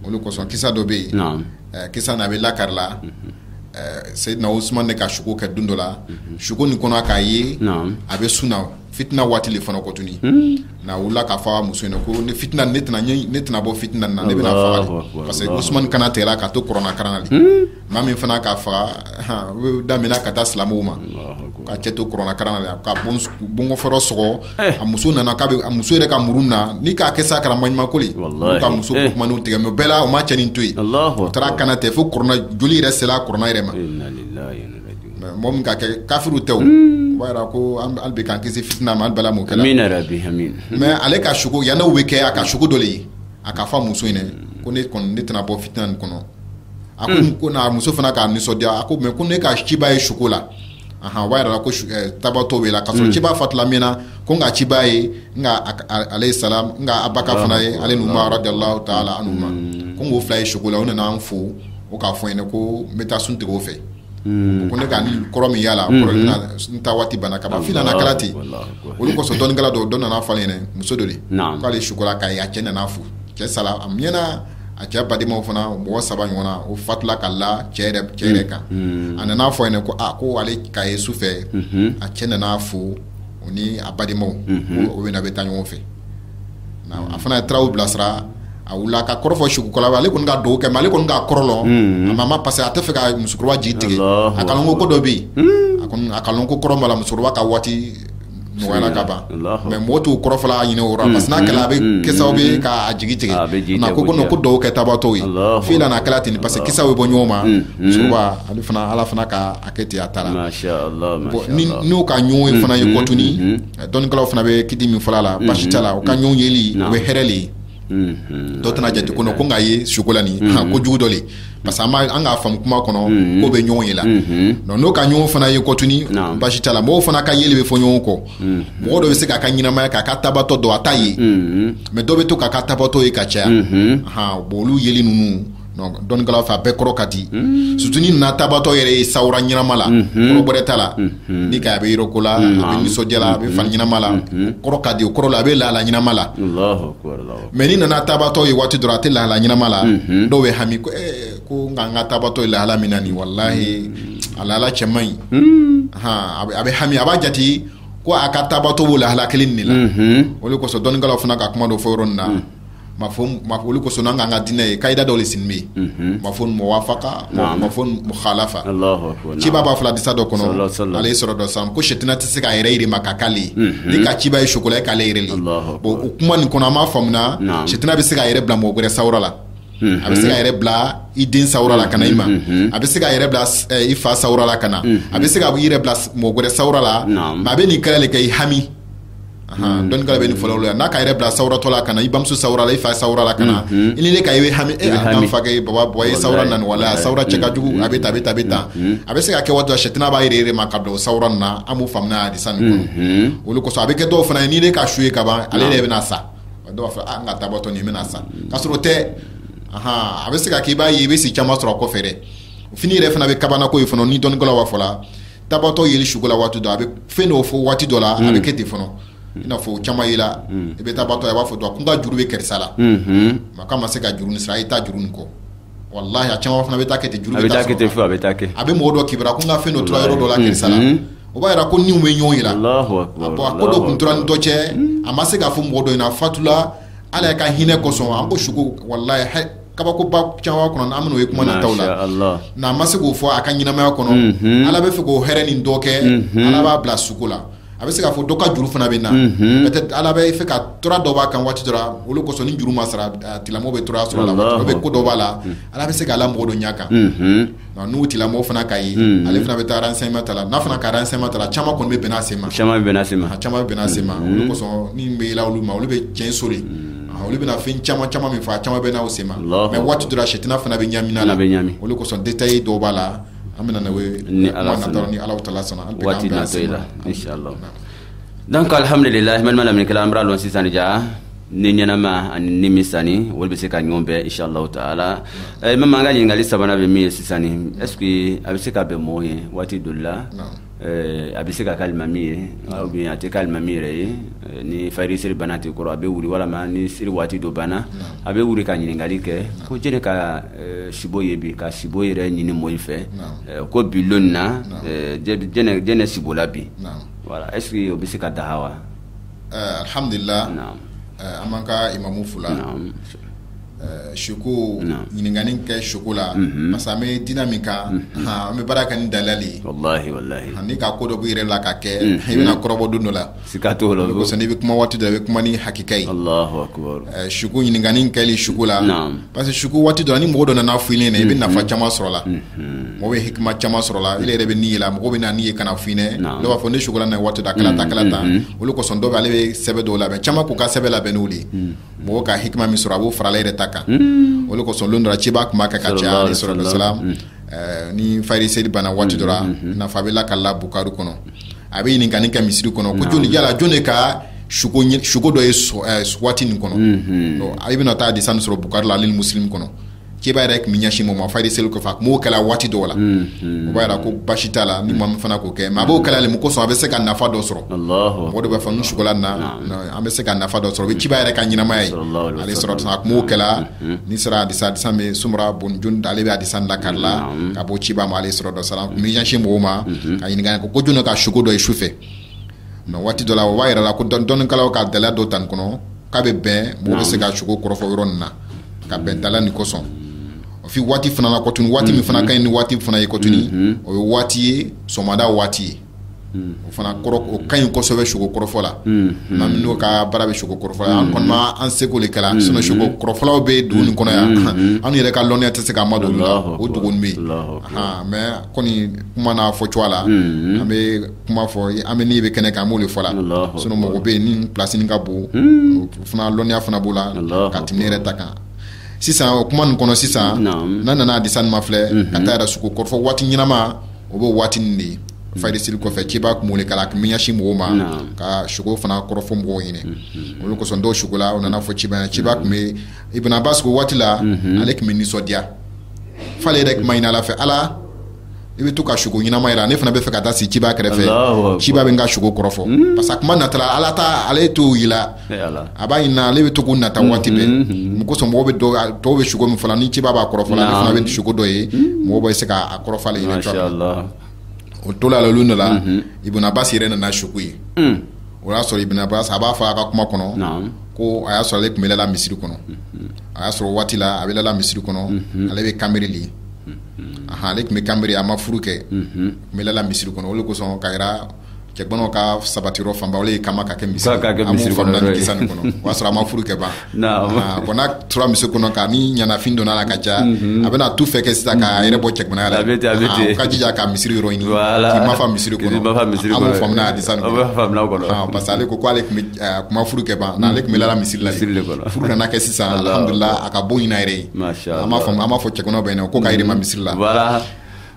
S3: olu kosɔn kisa dɔ bɛ yen kisa na a bɛ lakari la Seyidina Usman de ka suko kɛ don dɔ la suko nin kɔnɔ a k'a ye a bɛ sun na fitina waati le fana kɔtuni n'a wulila k'a fɔ a muso ɲɛna ko ni fitina ne tɛna bɔ fitina na ne bɛna faa parce que Usman kana tigɛla ka to kurana karan na maa min fana k'a faga daminɛna ka taa silamɛw ma ka cɛ to kurana karan na ka bɔnkɔfɔrɔ sɔgɔ eh. a muso nana k'a a muso yɛrɛ ka muru na ni k'a kɛ sa kɛra maɲumankoli ka muso eh. kumaniw tigɛ mais bɛɛ la o ma cɛnin to yen o taara kana tigɛ fo kurana joli yɛrɛ sera kurana yɛrɛ ma mɔgɔ min ka kɛ kafiri tɛ o hmm. b'a jira ko hali bi k'an kisi fitina ma hali bala m'o kɛ la mais ale ka suko yann'o bɛ kɛ a ka suko dɔ de ye a k'a fɔ muso in dɛ ko ne kɔni ne tɛna bɔ fitina nin kɔnɔ a ko hmm. ko n'a muso fana k'a nisɔndiya a ko mais ko ne ka ciba ye suko la ahan o b'a jira ko eh, tabatɔ bɛ la ka sɔrɔ hmm. ciba fatula a mɛnna ko n ka ciba ye n ka alayhi salam n ka Abubakar fana ye ale ni Umar radiyallahu ta'ala anhuma hmm. ko n k'o fila ye suko la o nana an fo o k'a fɔ n ɲɛna ko n bɛ taa sun tigɛ o fɛ ko ne ka kɔrɔ min y'a la kɔrɔ n ta waati banna ka ban fi'lan a kɛla ten olu kosɔn dɔnnikɛla dɔw dɔ nana fɔ n ɲɛna muso dɔ de k'ale suko la k'a ye a cɛ nana fo cɛ sala a mɛnna a cɛ badenmaw fana mɔgɔ saba ɲɔgɔn na o fatula ka la cɛ yɛrɛ kan a nana n'a fɔ ɲɛna ko a ko ale k'a ye su fɛ a cɛ nana fo u ni a badenmaw o bɛɛ bɛ taa ɲɔgɔn fɛ a fana taara olu bilasira a wili k'a kɔrɔ fɔ sugukala ale kɔni ka duwawu kɛ mais ale kɔni k'a kɔrɔ lɔn a ma parce que a tɛ fɛ ka musokɔrɔba jigi tigɛ a k'a lɔn ko dɔ bɛ yen a k'a lɔn ko kɔrɔ b'a la musokɔrɔba ka waati dɔgɔyala ka ban mais mɔgɔ t'o kɔrɔ fɔla a ɲɛna o yɔrɔ la parce que n'a kɛla a bɛ kɛ sababu ye k'a jigi tigɛ a ko ko non ko duwawu kɛ tabatɔw ye fi'lan a kɛla ten parce que kisaw bɛ bɔ ɲɔgɔn ma musoba ale fana Ala fana ka a kɛ ten a taara bon ni n'u ka ɲɔgɔn ye fana ye kɔtuni dɔnnikɛlaw fana bɛ kiti min fɔla la basi t'a la u ka ɲɔgɔn yeli o bɛ hɛrɛ le ye Mhm. dɔ tɛna jate ko ko n k'a ye suko la nin mhm. ko jugu dɔ le parce que an b'a an k'a faamu kuma kɔnɔ mhm. k'o bɛ ɲɔgɔn ye la donc n'o ka ɲɔgɔn fana ye kɔtuni basi t'a la mɔgɔw fana ka yeli bɛ fɔ ɲɔgɔn kɔ mɔgɔ dɔ bɛ se k'a ka ɲɛnamaya k'a ka tabatɔ dɔn a t'a ye mais dɔ bɛ to k'a ka tabatɔ ye ka caya bon olu yeli ninnu dɔnnikɛlaw fɛ a bɛɛ kɔrɔ ka di surtout n'i nana tabatɔ yɛrɛ ye sawura ɲɛnama la kɔrɔ bɔnɛ t'a la ni ka a bɛ yɛlɛko la a bɛ nisɔndiya la a bɛ fani ɲɛnama la kɔrɔ ka di o kɔrɔ la a bɛ lahala ɲɛnama la mais n'i nana tabatɔ ye waati dɔrɔn a tɛ lahala ɲɛnama la dɔw bɛ hami ko ko n ka n ka tabatɔ ye lahala min na nin walahi a lahala cɛ man ɲi a bɛ hami a b'a jate ko a ka tabatɔ b'o lahala kelen nin de la o de kosɔn dɔnnikɛlaw fana ka kuma dɔ fɔ yɔrɔ nin na ma o le kosɔn n'an k'an ka diinɛ ye ka'ida dɔ de sin bɛ yen mafhum muwafaka mafhum mukhalafa ciba b'a fɔ la hadisa dɔ kɔnɔ alayhi salatu wa salam ko sitina tɛ se k'a yɛrɛ yɛlɛma ka k'ale ye n'i ka ciba ye suko la k'ale yɛrɛ le don o kuma nin kɔnɔ an b'a faamuya sitina bɛ se k'a yɛrɛ bila mɔgɔ wɛrɛ sawura la a bɛ se k'a yɛrɛ bila i den sawura la ka na i ma a bɛ se k'a yɛrɛ bila i fa sawura la ka na a bɛ se k'a yɛrɛ bila mɔgɔ wɛrɛ sawura la a bɛ nin kɛ la de k'i hami dɔnnikɛlaw bɛ nin fɔ la yan n'a k'a yɛrɛ bila sawura dɔ la ka na i bamuso sawura la i fa sawura la ka na i ni ne ka e hami e hami fa e baba bɔ e sawura na wala sawura cɛ ka jugu a bɛ tan a bɛ tan a bɛ tan a bɛ se ka kɛ waati sitina b'a yɛlɛma ka bila o sawura nin na an b'o faamuya hadisa nin kɔnɔ o le kosɔn a bɛ kɛ dɔw fana ye ni ne ka su ye ka ban ale de bɛna sa dɔw b'a fɔ n ka tabatɔ nin bɛna sa k'a sɔrɔ o tɛ a bɛ se ka k'i b'a ye i bɛ si caman sɔrɔ a kɔfɛ dɛ fini yɛrɛ fana bɛ kabako ye fana ni dɔnnikɛlaw b'a fɔ la tabatɔ yeli suko la waati dɔ a bɛ fɛn dɔw fɔ waati dɔ la a bɛ kɛ ten fana i n'a fɔ o caman ye la i bɛ tabatɔ a b'a fɔ dɔ ɲɛ na ko n ka juru bɛ karisa la ma ka ma se ka juru nin sara i taa juru nin kɔ walahi a caman fana bɛ taa kɛ juru a bɛ taa kɛ ten fɔ a bɛ taa kɛ a bɛ mɔgɔ dɔ kibara ko n ka fɛn dɔ tora yɔrɔ dɔ la karisa la o b'a jira ko niw bɛ ɲɔgɔn ye la bon a ko dɔ kun tora ni dɔ cɛ a ma se k'a fɔ mɔgɔ dɔ ɲɛ na a fatula ala y'a ka hinɛ kosɔn an ko suko walahi kabakoba caman kɔnɔ an bɛn'o ye kuma nataw la n'a ma se k'o fɔ a ka ɲɛnamaya kɔnɔ ala bɛ fɛ k'o hɛrɛ nin dɔ kɛ ala b'a bila suko la a bɛ se k'a fɔ dɔ ka juru fana bɛ na peut-être ala bɛ fɛ ka tɔɔrɔ dɔ bɔ a kan waati dɔ la o le kosɔn ni juru ma sara tigilamɔgɔ bɛ tɔɔrɔ sɔrɔ la waati dɔ bɛ ko dɔ b'a la ala bɛ se k'a la mɔgɔ dɔ ɲɛ kan n'o tigilamɔgɔ fana k'a ye ale fana bɛ taa renseignement ta la n'a fana ka renseignement ta la caman kɔni bɛ bɛn a sen ma caman bɛ sen ma caman bɛ bɛn a sen ma o le kosɔn ni bɛ yɛlɛ olu ma olu bɛ cɛnso de olu bɛna fɛn caman caman min fɔ caman bɛn a sen ma mais waati dɔ la sitina fana bɛ ɲamina la bɛ ɲami o le kosɔn détail dɔw b'a la an bɛna ni ala taala sɔnna
S2: donc alhamdulillah balima lamɛnnikɛlaw an bɛr'a lɔn sisan ja ni ɲɛnama ani ni min salen olu bɛ se ka ɲɔgɔn bɛn inshallahu taala eh, mɛma an ka ɲininkali sabanan bɛ min ye sisani est ce que a bɛ se ka bɛn mɔgɔw ye waati dɔ la eh, a bɛ se ka kɛ alimami ye ou bien a tɛ kɛ alimami yɛrɛ ye eh, ni fajiri seli banna tɛ kɔrɔ a bɛ wuli walama ni seli waati dɔ banna a bɛ wuli ka ɲininkali kɛ ko jɛnɛ ka sibo ye bi ka sibo yɛrɛ ɲini mɔgɔw fɛ ko bi lon nin na jɛnɛ sibola bi Voilà est-ce que o bɛ se ka daga wa
S3: alihamdulila an b'an ka imamu fula suko ɲininkani kɛ suko la parce que an bɛ diinɛ min kan an bɛ baara kɛ ni dalili n'i ka ko dɔ b'i yɛrɛ la ka kɛ i bɛna kɔrɔbɔ don dɔ la siga t'o la i bɛ kuma waati dɔ i bɛ kuma ni hakika ye suko ɲininkani kɛli suko la Parce que suko waati dɔ ni mɔgɔ dɔ nana fɔ i ɲɛna i bɛ nafa caman sɔrɔ la mɔgɔ bɛ hikima caman sɔrɔ la i yɛrɛ bɛ ni ye la mɔgɔ bɛ na ni ye ka n'a fɔ i ɲɛna b'a fɔ ne sukola na waati dɔ kalata kalata o le kosɔn dɔw ale bɛ sɛbɛn dɔw labɛn caman k'u ka sɛbɛn labɛn n'o de ye mɔgɔ ka hikima min sɔrɔ a b'o fara ale yɛrɛ ta kan o le kosɔn lon dɔ ciba tun b'a kɛ ka caya aleyi salatu wa salam ni fayiri seli banna waati dɔ nafa bɛ la ka la bukari kɔnɔ a bɛ ɲininkali kɛ misiri kɔnɔ ko jɔnni yala jɔn de ka suko dɔ ye eh, waati nin kɔnɔ mhm. a bɛna taa hadisa nin sɔrɔ bukari la ale ni muslim kɔnɔ ciba yɛrɛ tun bɛ ɲɛsin maa ma fayiri seli kɔfɛ a tun b'o kɛla waati dɔw la mhm. o b'a jira ko basi t'a la ni maa min fana k'o kɛ mais a b'o kɛla le mun kosɔn a bɛ se ka nafa dɔ sɔrɔ mɔgɔ dɔ b'a fɔ n sukola na an bɛ se ka nafa dɔ sɔrɔ o bɛ ciba yɛrɛ ka ɲɛnamaya ye aleyi salam a tun b'o kɛla n'i sera hadisa hadisa bɛ Samura bun Jundub ale bɛ hadisa lakali la ka bɔ ciba ma aleyi salatu wa salam tun bɛ ɲɛsin mɔgɔw ma ka ɲininkali kɛ ko jɔn ka suko dɔ ye su fɛ mais waati dɔ la o b'a yira la ko dɔnnikɛlaw ka dalili dɔ ta nin kɔnɔ k'a bɛ bɛn mɔgɔ bɛ se ka suko kɔrɔfɔ yɔrɔ nin na ka bɛn dalili nin kosɔn o waati fana kotuguni waati min fana ka ɲi ni waati fana ye kotuguni o ye waati ye sɔgɔmada waati ye o fana o ka ɲi kosɛbɛ sugo kɔrɔfɔ la n'o ka baara bɛ sugo kɔrɔfɔ an kɔni an seko de kɛra sinon sugo kɔrɔfɔlaw bɛ dugu nin kɔnɔ yan an yɛrɛ ka lɔnniya tɛ se k'a madon la o dugu bɛ yen mais kɔni kuma n'a fɔ cogoya la an bɛ kuma fɔ an bɛ min bɛ kɛnɛ kan an b'o de fɔ la sinon mɔgɔw bɛ yen ni place nin ka bon fana lɔnniya fana b'o la ka tɛmɛ ne yɛrɛ ta kan sisan o kuma kɔnɔ sisan n'an nana hadisa mafilɛ ka taa yɛrɛ sugo kɔrɔfɔ waati ɲɛnama o b'o waati nin de ye fayiri seli kɔfɛ ciba kun wele ka ka ɲɛsin mɔgɔw ma ka sugo fana kɔrɔfɔ mɔgɔw ɲɛna o le kosɔn dɔw sukola u nana fɔ ciba ciba tun bɛ Ibn Abbas ko waati la ale tun bɛ nisɔndiya f'a yɛrɛ kun b'a ɲini ala fɛ ala i bɛ to ka sugo ɲɛnama jira ne fana bɛ fɛ ka taa se ciba kɛrɛfɛ ciba bɛ n ka sugo kɔrɔfɔ parce que kuma na ala taa ale t'o jira a b'a ɲini ale bɛ to nata waati bɛɛ mun kosɔn mɔgɔw bɛ dɔw bɛ sugo min fɔla ni ciba b'a kɔrɔfɔ ale fana bɛ sugo dɔ ye mɔgɔ bɛ se k'a kɔrɔ ɲini o to la de la Ibn Abbas yɛrɛ nana sugo ye o y'a sɔrɔ Ibn Abbas a b'a fɔ a ka kuma kɔnɔ ko a y'a sɔrɔ ale tun bɛ lala misiri kɔnɔ a y'a sɔrɔ waati a bɛ lala misiri kɔnɔ ale bɛ kanberen de ale tun bɛ kanberen a ma furu kɛ bɛ lala misiri kɔnɔ o kosɔn ka cɛgana ka sabatiyɔrɔ fanba ye ka ka kɛ misiri kisa nin kɔnɔ o y'a sɔrɔ a ma furu kɛ ban ko n'a tora misiri kɔnɔ ka ni ɲɛnafin donn'a la ka ca a bɛna tout faire kɛ sisan k'a yɛrɛ bɔ cɛganaya la a ka jija ka misiri yɔrɔ ɲini ma fa misiri kɔnɔ parce que ale ko k'ale tun ma furu kɛ ban n'ale tun bɛ lala misiri la furu nana kɛ sisan a ka bon ɲin'a yɛrɛ ye a b'a fɔ cɛgana bɛ yen ko ka ma misiri la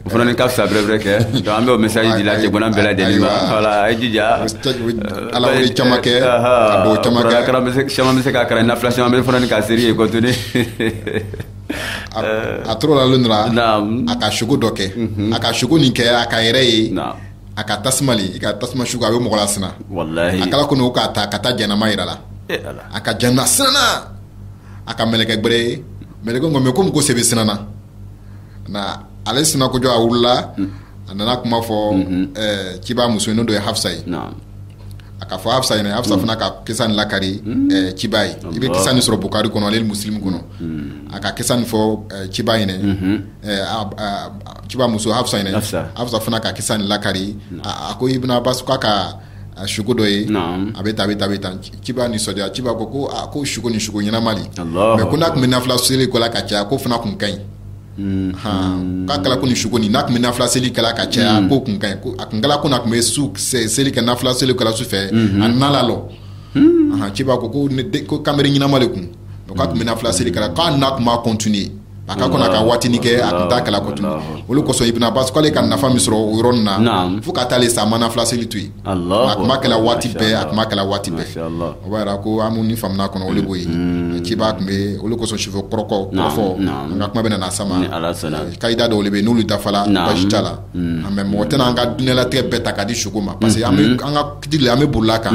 S3: o fana
S2: ni ka fisa bɛrɛbɛrɛ kɛ donc an bɛ o message di la cɛgana bɛɛ lajɛlen ma voilà a ye jija ala
S3: wele caman kɛ ka duwa caman kɛ caman bɛ se ka kalan nafila
S2: caman bɛ fana ni ka seri ye
S3: continuer a tora la lon dɔ ra a ka sugo dɔ kɛ a ka sugo nin kɛ a k'a yɛrɛ ye a ka tasuma le ka tasuma sugo a bɛ mɔgɔ lasiran a kɛla
S2: komi o k'a ta
S3: ka taa jahanama yira a la a ka jahanama siranna a ka mɛlɛkɛ gbɛrɛ ye mɛlɛkɛ ko a ma ko mun kosɔn e bɛ siranna ale siran kojugu a wulila a nana kuma fɔ ciba muso n'o don ye hafsa ye a k'a fɔ hafsa ɲɛna hafsa fana ka kisa nin lakari ciba ye i bɛ kisa nin sɔrɔ bukari kɔnɔ ale ni muslim kɔnɔ a ka kisa nin fɔ ciba ɲɛna ciba muso hafsa ɲɛna hafsa fana ka kisa nin lakari a ko ibn abbas k'a ka a sugo dɔ ye a bɛ tan a bɛ tan a bɛ tan ciba nisɔndiya ciba ko ko ko sugo nin sugo ɲɛnama de mais ko n'a tun bɛ nafila seli kɛla ka caya ko fana tun ka ɲi hɔn k'a kɛra ko ni sugo n'a tun bɛ nafila seli kɛla ka caya ko tun ka ɲi ko a tun kɛla ko n'a tun bɛ su seli kɛ nafila seli kɛla su fɛ a nana lɔ ciba ko ko ko kanbere ɲɛnama de kun o k'a tun bɛ nafila seli kɛla k'a n'a tun b'a continuer a ka kɔnɔ ka waati kɛ a t'a kɛla continuer olu kosɔn ibn abbas k'ale ka nafa min sɔrɔ o yɔrɔ na fo ka taa sa a ma nafila seli to yen a tun b'a kɛla waati bɛɛ a tun b'a kɛla waati bɛɛ o b'a yira ko an ni faamu kɔnɔ olu ko yen ciba tun bɛ olu kosɔn sufɛ kɔrɔfɔ an ka kuma bɛ na sama kayida dɔw bɛ yen n'olu dafala basi t'a la mais mɔgɔ tɛna an ka diɲɛlatigɛ bɛɛ ta k'a di sugo ma parce que an ka Kitigi an bɛ bolila kan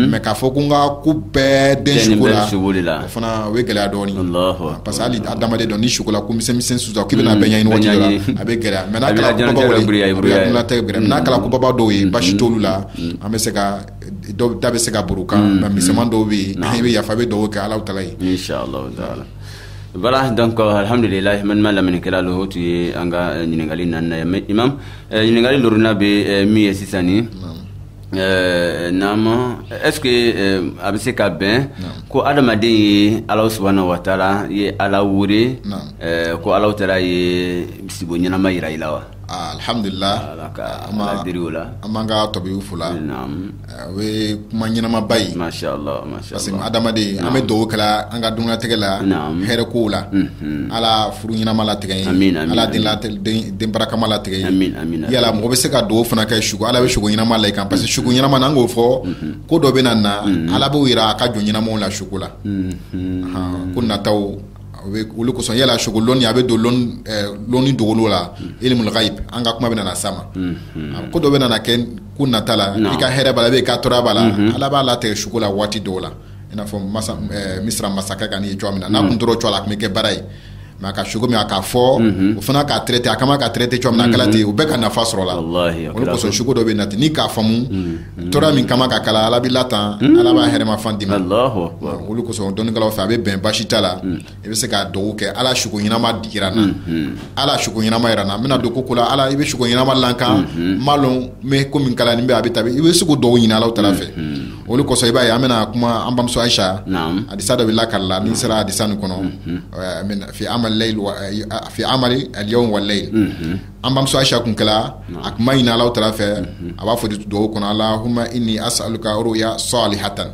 S3: mais k'a fɔ ko n ka ko bɛɛ den sugo la o fana o ye gɛlɛya dɔɔnin parce que adamaden dɔ ni sugo la ko misɛn susa k'i bɛna bɛ ɲɛ ɲɔgɔn a bɛ gɛlɛya mais n'a kɛra koba dɔw ye basi t'olu la an bɛ se ka dɔw da bɛ se ka kan nka misɛnman dɔw bɛ yen an bɛ yafa bɛ duwa kɛ ala
S2: taala ye alhamdulila lamɛnnikɛla o tun ye an ka ɲininkali na eh, ɲininkali loorunan bɛ eh, min ye sisan ni eh, naama est ce que a bɛ se ka bɛn ko adamaden ye alahu subhanahu wa taala ye ala wele ko alahu taala ye sibo ɲɛnama yira i la
S3: wa alhamdulilah an b'an ka tabiw fo la o ye kuma ɲɛnamaba ye
S2: parce que
S3: adamaden an bɛ dugawu kɛla an ka diɲɛnatigɛ la hɛrɛ ko la ala furu ɲɛnama latigɛ ye ala den barakama latigɛ yala mɔgɔ bɛ se ka dugawu fana kɛ sugo ala bɛ sugo ɲɛnama la i kan parce que sugo ɲɛnama n'an k'o fɔ ko dɔ bɛ na na ala b'o jira a ka jɔn ɲɛnamaw la sugo la ko nataw olu kosɔn yala sugo lɔnni a bɛ don lɔnni dogolen la ilmul ghaib an ka kuma bɛ na sa ma ko dɔ bɛ kɛ ko nata la i ka hɛrɛ b'a la i ka tɔɔrɔ b'a la ala b'a latigɛ sugo la waati dɔw la i n'a fɔ misira masakɛ ka nin ye cogo min na n'a tun tora o cogo la a tun bɛ kɛ baara ye mais a ka sugo min a k'a fɔ o fana k'a traiter a kama k'a traiter cogo min na ten u bɛɛ ka nafa sɔrɔ la o kosɔn
S2: sugo dɔ bɛ
S3: na ten n'i k'a faamu tɔɔrɔ min kama ka kɛ i la ala b'i latanga ala b'a hɛrɛma fan di i ma olu
S2: kosɔn dɔnnikɛlaw fɛ
S3: a bɛ bɛn basi t'a la i bɛ se ka dugawu kɛ ala sugo ɲɛnama yira n na ala sugo ɲɛnama yira n na n bɛna don ko kura la ala i bɛ sugo ɲɛnama la n kan n ma lɔn n bɛ ko min kɛla nin bɛ a bɛ taa i bɛ sugo dɔ ɲinin ala taala fɛ olu kosɔn i b'a ye an bɛna kuma an bamuso ayisa hadisa dɔ bɛ la karila ni sera hadisa nin kɔnɔ amali al yawm wal layl an bamuso ayisa kun kɛra a kun b'a ɲinin ala taala fɛ a b'a fɔ dugawu kɔnɔ allahumma inni as'aluka ruya salihatan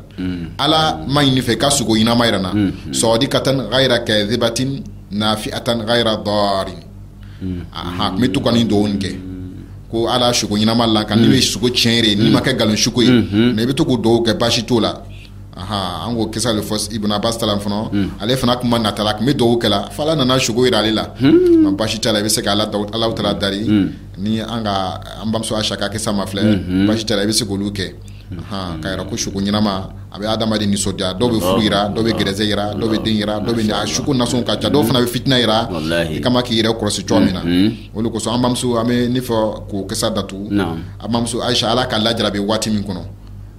S3: ala n b'a ɲini i fɛ i ka sugo ɲɛnama yira n na sadiqatan ghayra kadhibatin nafi'atan ghayra darin aa n bɛ to ka nin dugawu kɛ ko ala sugo ɲɛnama la n kan n' ye sugo tiɲɛ de n'i ma kɛ nkalon sugo ye n'i bɛ to k'o dugawu kɛ basi t'a la aa an k'o kisa de fɔ ibn abbas kɔnɔ ale fana tun b'a nata la a tun bɛ dugawu kɛ fo ala nana sugo jira ale la nka basi t'a la i bɛ se k' ala ala taala dari ni an ka an bamuso ayisa k'a kɛ sa ma filɛ basi t'a la i bɛ se k' olu kɛ K'a yira ko sugo ɲɛnama a bɛ adamaden nisɔndiya dɔw bɛ furu yira dɔw bɛ garijɛgɛ yira dɔw bɛ den yira dɔw bɛ sugo nasɔn ka ca dɔw fana bɛ fitina yira i kama k'i yɛrɛ kɔlɔsi cogo min na o de kosɔn an bamuso an bɛ nin fɔ ko kisa datu an bamuso ayisa ala ka la jara bɛ waati min kɔnɔ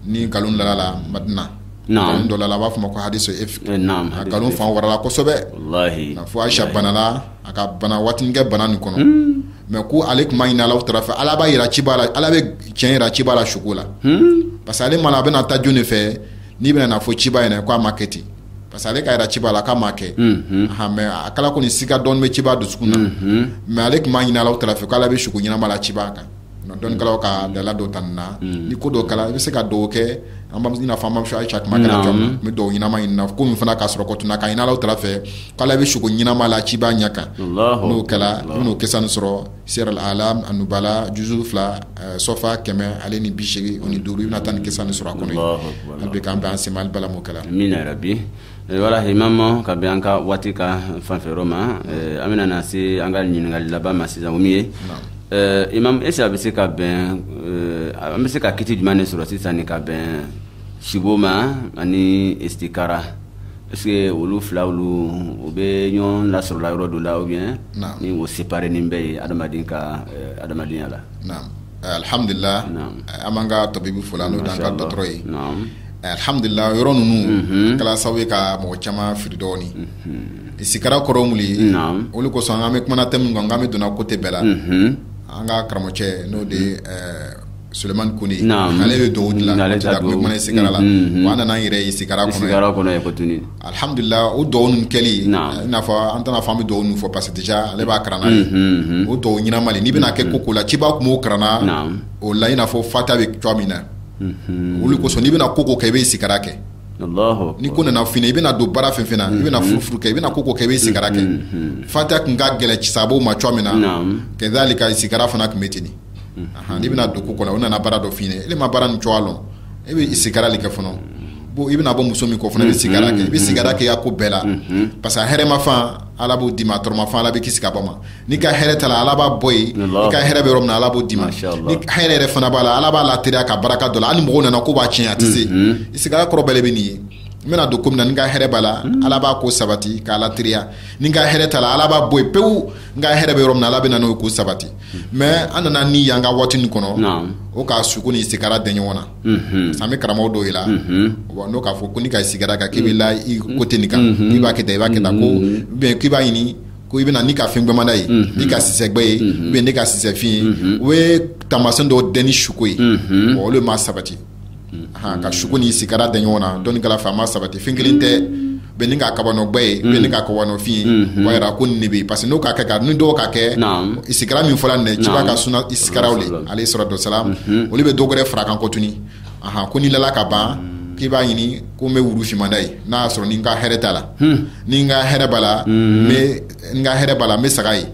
S3: ni nkalon la madina dɔ la a b'a fɔ ma ko hadisa nkalon fan warala kosɛbɛ fo ayisa banala a ka bana waatinin kɛ bana nin kɔnɔ mais ko ale kun b'a ɲini ala taala fɛ ala b'a jira ciba la ala bɛ tiɲɛ jira ciba la sugo la hmm? parce que ale m'a lɔn a bɛna taa jɔn de fɛ nin bɛna a fɔ ciba ɲɛna k'a ma kɛ ten parce que ale k'a jira ciba la k'a ma kɛ hmm. mais a kɛla kɔni siga dɔɔni bɛ ciba dusukun na hmm. mais ale kun b'a ɲini ala taala fɛ k'ala bɛ sugo ɲɛnama la ciba kan dɔnnikɛlaw ka dalilu dɔ ta nin na ni ko dɔ kɛla i bɛ se ka dugawu kɛ an ba i n'a fɔ an bamuso ayisa kun b'a kɛra cogo min dugawu ɲɛnama ɲini na ko min fana k'a sɔrɔ kɔtuna ka ɲini ala taala fɛ k'ala bɛ suko ɲɛnama la ciba ɲɛ kan n'o kɛra i bɛn'o kisa nin sɔrɔ siyari alamu anubala juzu fila eh, sɔfa kɛmɛ ale ni bi seegin o ni duuru i bɛna taa ni kisa nin sɔrɔ a kɔnɔ an bɛ k'an bɛ an sema bala m'o kɛra min yɛrɛ bi
S2: eh, wala himama ka bɛn an ka waati ka fanfɛyɔrɔ ma eh, an bɛna na se an ka ɲininkali laban ma sisan o min ye imam est-ce a bɛ se ka bɛn an bɛ se ka kiti jumɛn de sɔrɔ sisan ni ka bɛn sibo ma ani istikara Est-ce que olu fila olu u bɛ ɲɔgɔn lasɔrɔla yɔrɔ dɔ la ou bien ni o séparé nen bɛ yen adamaden ka adamadenya la. Naamu
S3: alihamidulila an b'an ka tabibu fo n'o y'an ka dɔgɔtɔrɔ ye alihamidulila yɔrɔ ninnu a kɛra sababu ye ka mɔgɔ caman fili dɔɔni sikara kɔrɔ ye mun ye olu kosɔn an bɛ kumana thème min kan n k'an bɛ don na côté bɛɛ la an ka karamɔgɔcɛ n'o de ye Sulemani ko ale bɛ dugawu dilan ale in sigara la a nana yɛrɛ ye sigara
S2: kɔnɔ alihamdulila
S3: o dugawu nin kɛlen n'a fɔ an tɛna fan bɛ dugawu nin fɔ parce que déjà ale b'a kalan ye o dugawu ɲɛnama n'i bɛna kɛ ko ko la ciba tun b'o kalan o la in n'a fɔ fatiya bɛ cogo min na olu kosɔn n'i bɛna ko ko kɛ i bɛ sigara kɛ ni
S2: ko nana fini i
S3: bɛna don baara fɛ i bɛna furu kɛ i bɛna ko ko kɛ bɛ sigara kɛ fatiya tun ka gɛlɛn sahabaw ma cogo min na kazalika sigara fana tun bɛ ten i bɛna don ko o nana baara dɔ f ɲini e ma baara ni la e bɛ isigara de kɛ fɔlɔ bon i bɛna bɔ muso min kɔ fana i bɛ sigara kɛ i bɛ sigara k'i ya ko bɛɛ la parce que hɛrɛma fan ala b'o d'i ma tɔɔrɔma fan ala b'i kisi ka bɔ ma n'i ka hɛrɛ t'a la ala b'a bɔ yen i ka hɛrɛ bɛ yɔrɔ min ala b'o d'i ma hɛrɛ yɛrɛ fana b'a la ala b'a lateriya ka barika don a la ani mɔgɔw nana ko b'a tiɲɛ a tɛ se isigara kɔrɔ bɛɛ bɛ nin ye n bɛna don ko min na n ka hɛrɛ b'a la ala b'a ko sabati k'a lateriya ni n ka hɛrɛ t'a la ala b'a bɔ yen pewu n ka hɛrɛ bɛ yɔrɔ min na ala bɛ na n'o ko sabati mais an nana ni yan ka waati nin kɔnɔ o ka suko ni sigara dɛ ɲɔgɔn na sisan n bɛ karamɔgɔ dɔw ye la n'o k'a fɔ ko n'i ka sigara kan k'i bɛ la i côté nin kan k'i b'a kɛ i b'a kɛ tan ko bɛn k'i b'a ɲini ko i bɛna n'i ka fɛn gbɛman dɔ ye n'i ka sisɛgbɛ ye i bɛ n'i ka sisɛfin ye o bɛ tamasiyɛn dɔw dɛ ni suko ye o le ma sabati ka suko ni sigara dɛ ɲɔgɔn na dɔnnikɛlaw fɛ a ma sabati fɛn kelen tɛ i bɛ n'i ka kabanɔgɔ gbɛ ye i bɛ n'i ka kabanɔgɔ fin o jira ko nin bɛ parce que n'o ka kɛ ka nin dugawu ka kɛ isigara min fɔra nin ciba ka suna isigara o de alayhi salatu wasalamu olu bɛ dɔ wɛrɛ fara a kan ko tun ko n'i lala ka ban k'i b'a ɲini ko n bɛ wuru finman dɔ ye n'a y'a sɔrɔ ni n ka hɛrɛ t'a la ni n ka hɛrɛ b'a la n ka hɛrɛ b'a la n bɛ saga ye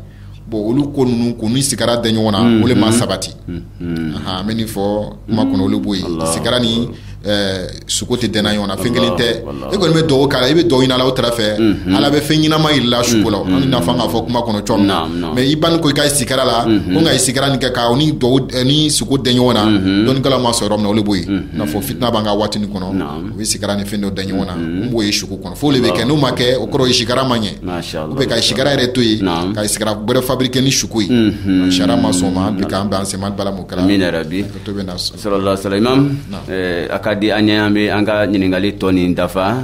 S3: bon olu ko ninnu ko ni sigara dɛ ɲɔgɔn na mm-hmm. o de ma sabati mm-hmm. an bɛ nin fɔ kuma kɔnɔ o le b'o ye sigara ni eh, suko tɛ dɛnna ɲɔgɔn na fɛn kelen tɛ e kɔni bɛ dugawu kɛla i bɛ dugawu ɲini ala tara fɛ mm-hmm. ala bɛ fɛn ɲinama yiri la suko la an n'a fɔ k'a fɔ kuma kɔnɔ cogo min na mais i ban ko i ka sigara la ko nka isigara nin kɛ ka nin dugawu eh, ni suko dɛ ɲɔgɔn na dɔnnikɛlaw ma sɔrɔ yɔrɔ min na o le b'o ye n'a fɔ fitina b'an ka waati nin kɔnɔ u bɛ sigara ni fɛn dɔ dɛ ɲɔgɔn na n b'o ye suko kɔnɔ fo de bɛ kɛ n'o ma kɛ o kɔrɔ sikara ma ɲɛ ou bien ka sikara yɛrɛ to yen ka sikara wɛrɛ fabriquer ni suko ye sariya ma sɔn ma bi an bɛn sema bala mu kɛra min yɛrɛ bi
S2: sallallahu alaihi wasallam a ka di an ɲɛ an bɛ an ka ɲininkali tɔ nin dafa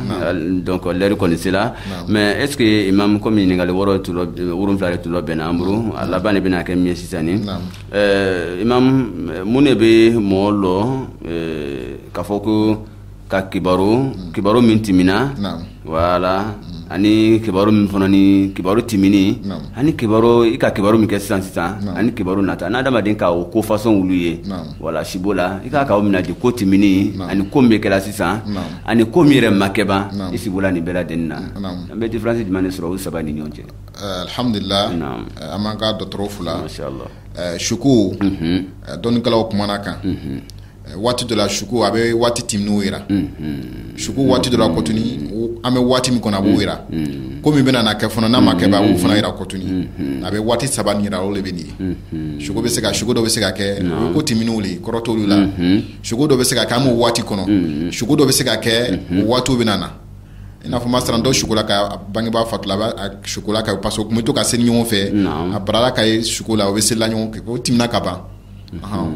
S2: donc lɛri kɔni sera mais est-ce que imam kɔmi ɲininkali wɔɔrɔ wolonwula de tun labɛnna an bolo a laban de bɛna kɛ min ye sisan ni imam mun de bɛ mɔgɔ lɔ k'a fɔ ko ka kibaru kibaru min tɛmɛna voilà ani kibaru min fana ni kibaru tɛmɛn ani kibaru i ka kibaru min kɛ sisan sisan ani kibaru nata n'a adamaden k'o ko fasɔn wolu ye voilà sibo la i ka kan k'u minɛ di ko tɛmɛn ani ko min bɛ kɛla sisan ani ko min yɛrɛ ma kɛ ban i sibo la nin bɛɛ lajɛlen na an bɛ difiransi jumɛn de sɔrɔ o saba ni ɲɔgɔn cɛ alhamdulila an
S3: b'an ka dɔgɔtɔrɔ fo la suko dɔnnikɛlaw kumana kan waati dɔ la suko a bɛ waati tɛmɛnnenw jira suko waati dɔ la kotuni an bɛ waati min kɔnɔ a b'o jira ko min bɛna kɛ fana n'a ma kɛ ban a b'o fana jira kotuni a bɛ waati saba jira o de bɛ nin ye bɛ se ka suko dɔ bɛ se ka kɛ ko tɛmɛnnenw le kɔrɔ t'olu la suko dɔ bɛ se ka kɛ an b'o waati kɔnɔ suko dɔ bɛ se ka kɛ waati bɛ na i n'a fɔ masalan dɔ suko la ka bangebaa fatula a bɛ suko la ka parce que o tun bɛ to ka seli ɲɔgɔn fɛ a bara la k'a ye suko la o bɛ selila ɲɔgɔn fɛ o tɛmɛna ka ban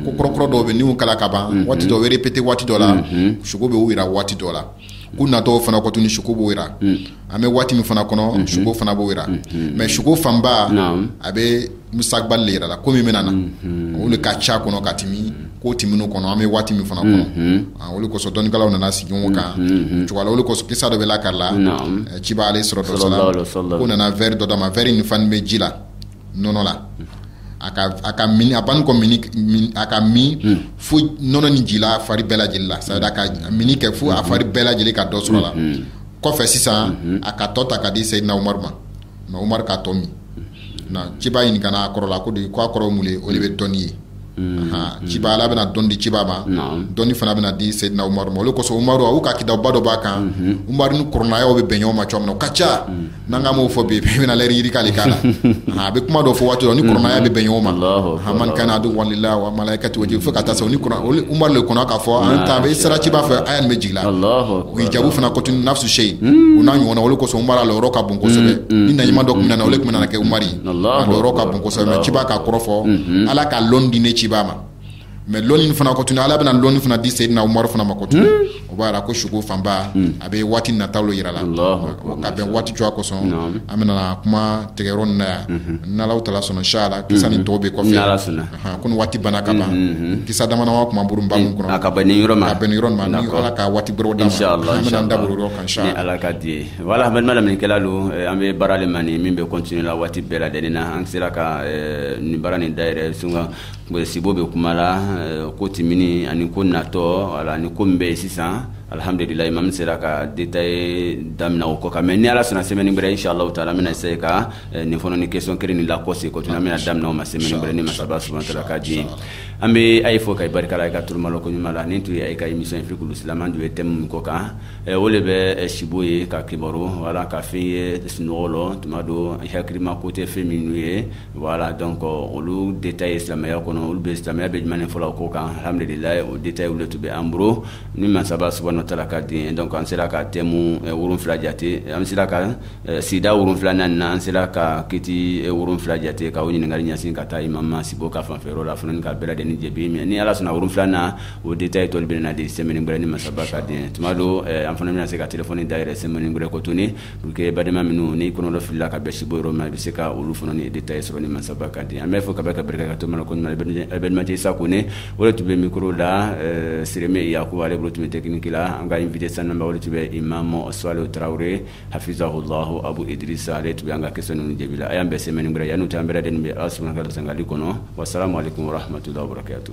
S3: ko kɔrɔkɔrɔ dɔw bɛ n'u kɛla ka ban waati dɔw bɛ répété waati dɔ la suko b'u jira waati dɔ la ko natɔ fana kotuni suko b'o jira an bɛ waati min fana kɔnɔ suko fana b'o jira mais suko fanba a bɛ mustakbal le jira la ko min bɛna na olu ka ca kɔnɔ ka tɛmɛ ko tɛmɛnnenw kɔnɔ an bɛ waati min fana kɔnɔ olu kosɔn dɔnnikɛlaw nana sigi ɲɔgɔn kan cogo la olu kosɔn kisa dɔ bɛ lakali la ciba alayhi salatu wasalam ko nana verre dɔ d'a ma verre nin falen bɛ ji la nɔnɔ la a ka a ka mini a banni kɔ minni na k'a min a ka min unhun fo nɔnɔ nin jigila a fari bɛɛ lajɛlen la c'est-à-dire a ka minni kɛ fo a fari bɛɛ lajɛlen ka dɔ sɔrɔ a la unhun kɔfɛ sisan unhun a ka tɔ ta ka di Seydina Umaru ma na Umaru k'a tɔ min na ciba ɲininkana a kɔrɔ la ko de ko a kɔrɔ ye mun de ye o de bɛ dɔnni ye ciba ala bɛna dɔnni di ciba ma dɔnni fana bɛna di seyidina Umaru ma olu kosɔn Umaru a ka kitabu dɔ b'a kan Umaru ni kurana ayaw bɛ bɛn ɲɔgɔn ma cogo min na o ka ca n'an ka maaw fɔ bi bɛna yiri k'ale kan na a bɛ kuma dɔ fɔ waati dɔ ni kurana aya bɛ bɛn ɲɔgɔn ma man kana aduwan lillahi wa malaikatihi fo ka taa se Umaru de kɔnɔ k'a fɔ an taa i sera ciba fɛ aya nin bɛ jigin hijabu fana kotuni nafsu shay u n'a ɲɔgɔnna olu kosɔn Umaru lɔyɔrɔ ka bon kosɛbɛ ni nabi ɲuman dɔ tun bɛ na olu tun nana kɛ yɔrɔ ka bon kosɛbɛ ciba ka kɔrɔ fɔ ala ka lɔn di ne ciba ma mais lɔnni fana ko tuguni ala bɛna lɔnni fana di Seyidina Umaru fana ma ko tuguni o b'a yira ko suko fanba a bɛ waati nataw yira la ka bɛn waati cogoya kosɔn an bɛna kuma tigɛ yɔrɔ nin na yan n'ala taala sɔnna inchallah kisa ni tɔw bɛ kɔfɛ ko waati banna ka ban kisa damadama b ba min kɔnɔ ka yɔrɔ ka waati da kan Voilà an balima lamɛnnikɛla donc an bɛ baara le ma nin min bɛ continuer la waati bɛɛ lajɛlen na an sera ka nin baara nin dayɛlɛ sun sibo bɛ kuma la ko tɛmɛnin ani ko natɔ wala ni ko min bɛ yen sisan alihamdulila imam sera ka détail daminɛ o ko kan mais ni ala sɔnna semaine wɛrɛ inchallah taala an bɛna essayer ka nin fana ni question kelen ni lakɔse ko tuguni an bɛna daminɛ o ma semaine wɛrɛ ni masaba subahana taala ka diɲɛ an bɛ ayi fo ka barika i ka tulomalɔ koɲuman na nin tun ye ayi ka émission Fiqhul Islam an tun ye thème min ko kan Eh, o de bɛ eh, sibo ye ka kibaru wala ka fɛn ye sunɔgɔ rɔ tuma dɔ hakilima ko tɛ fɛn minnu ye voilà donc olu détail silamɛya kɔnɔ olu bɛ silamɛya bɛ jumɛn fɔ la o ko kan alhamdulilayi o détail olu tun bɛ an bolo ni masaba subahana taala ka di donc an sera ka thème eh, wolonfila jate an sera ka sida wolonfila naani na an sera ka kiti wolonfila jate ka o ɲininkali ɲɛsin ka taa imam ma sibo ka fanfɛyɔrɔ la fana ni ka bɛɛ lajɛlen jaabi ni ala sɔnna wolonfila na O de ta ye tɔli bɛ na di sɛ wɛrɛ ni masaba ka di tuma don an fana bɛna se ka tf da yɛrɛ sɛ wɛrɛ kot u kɛ balima minnu ni kɔnɔdɔ filila ka bɛ si bɔ yɔrɔ min a bɛ se ka olu fana ni de ta ye sɔrɔ ni masaba ka di an bɛ fɔ ka bɛ ka barika ka to ko bɛjɛ sa ko ne o tun bɛ miro la sireme ya ko ale bolo tun bɛ tɛkinki la an ka nin vte san o tun bɛ i ma mɔ s tarawele hafizsa o lah abu diri sa ale tun bɛ an ka kɛ ninnu jaabi a y'an bɛ sɛ wɛrɛ yan n'u tan an bɛ de bɛ aw s ka sangali kɔnɔ wa sara mali tun hamatu da kɛ to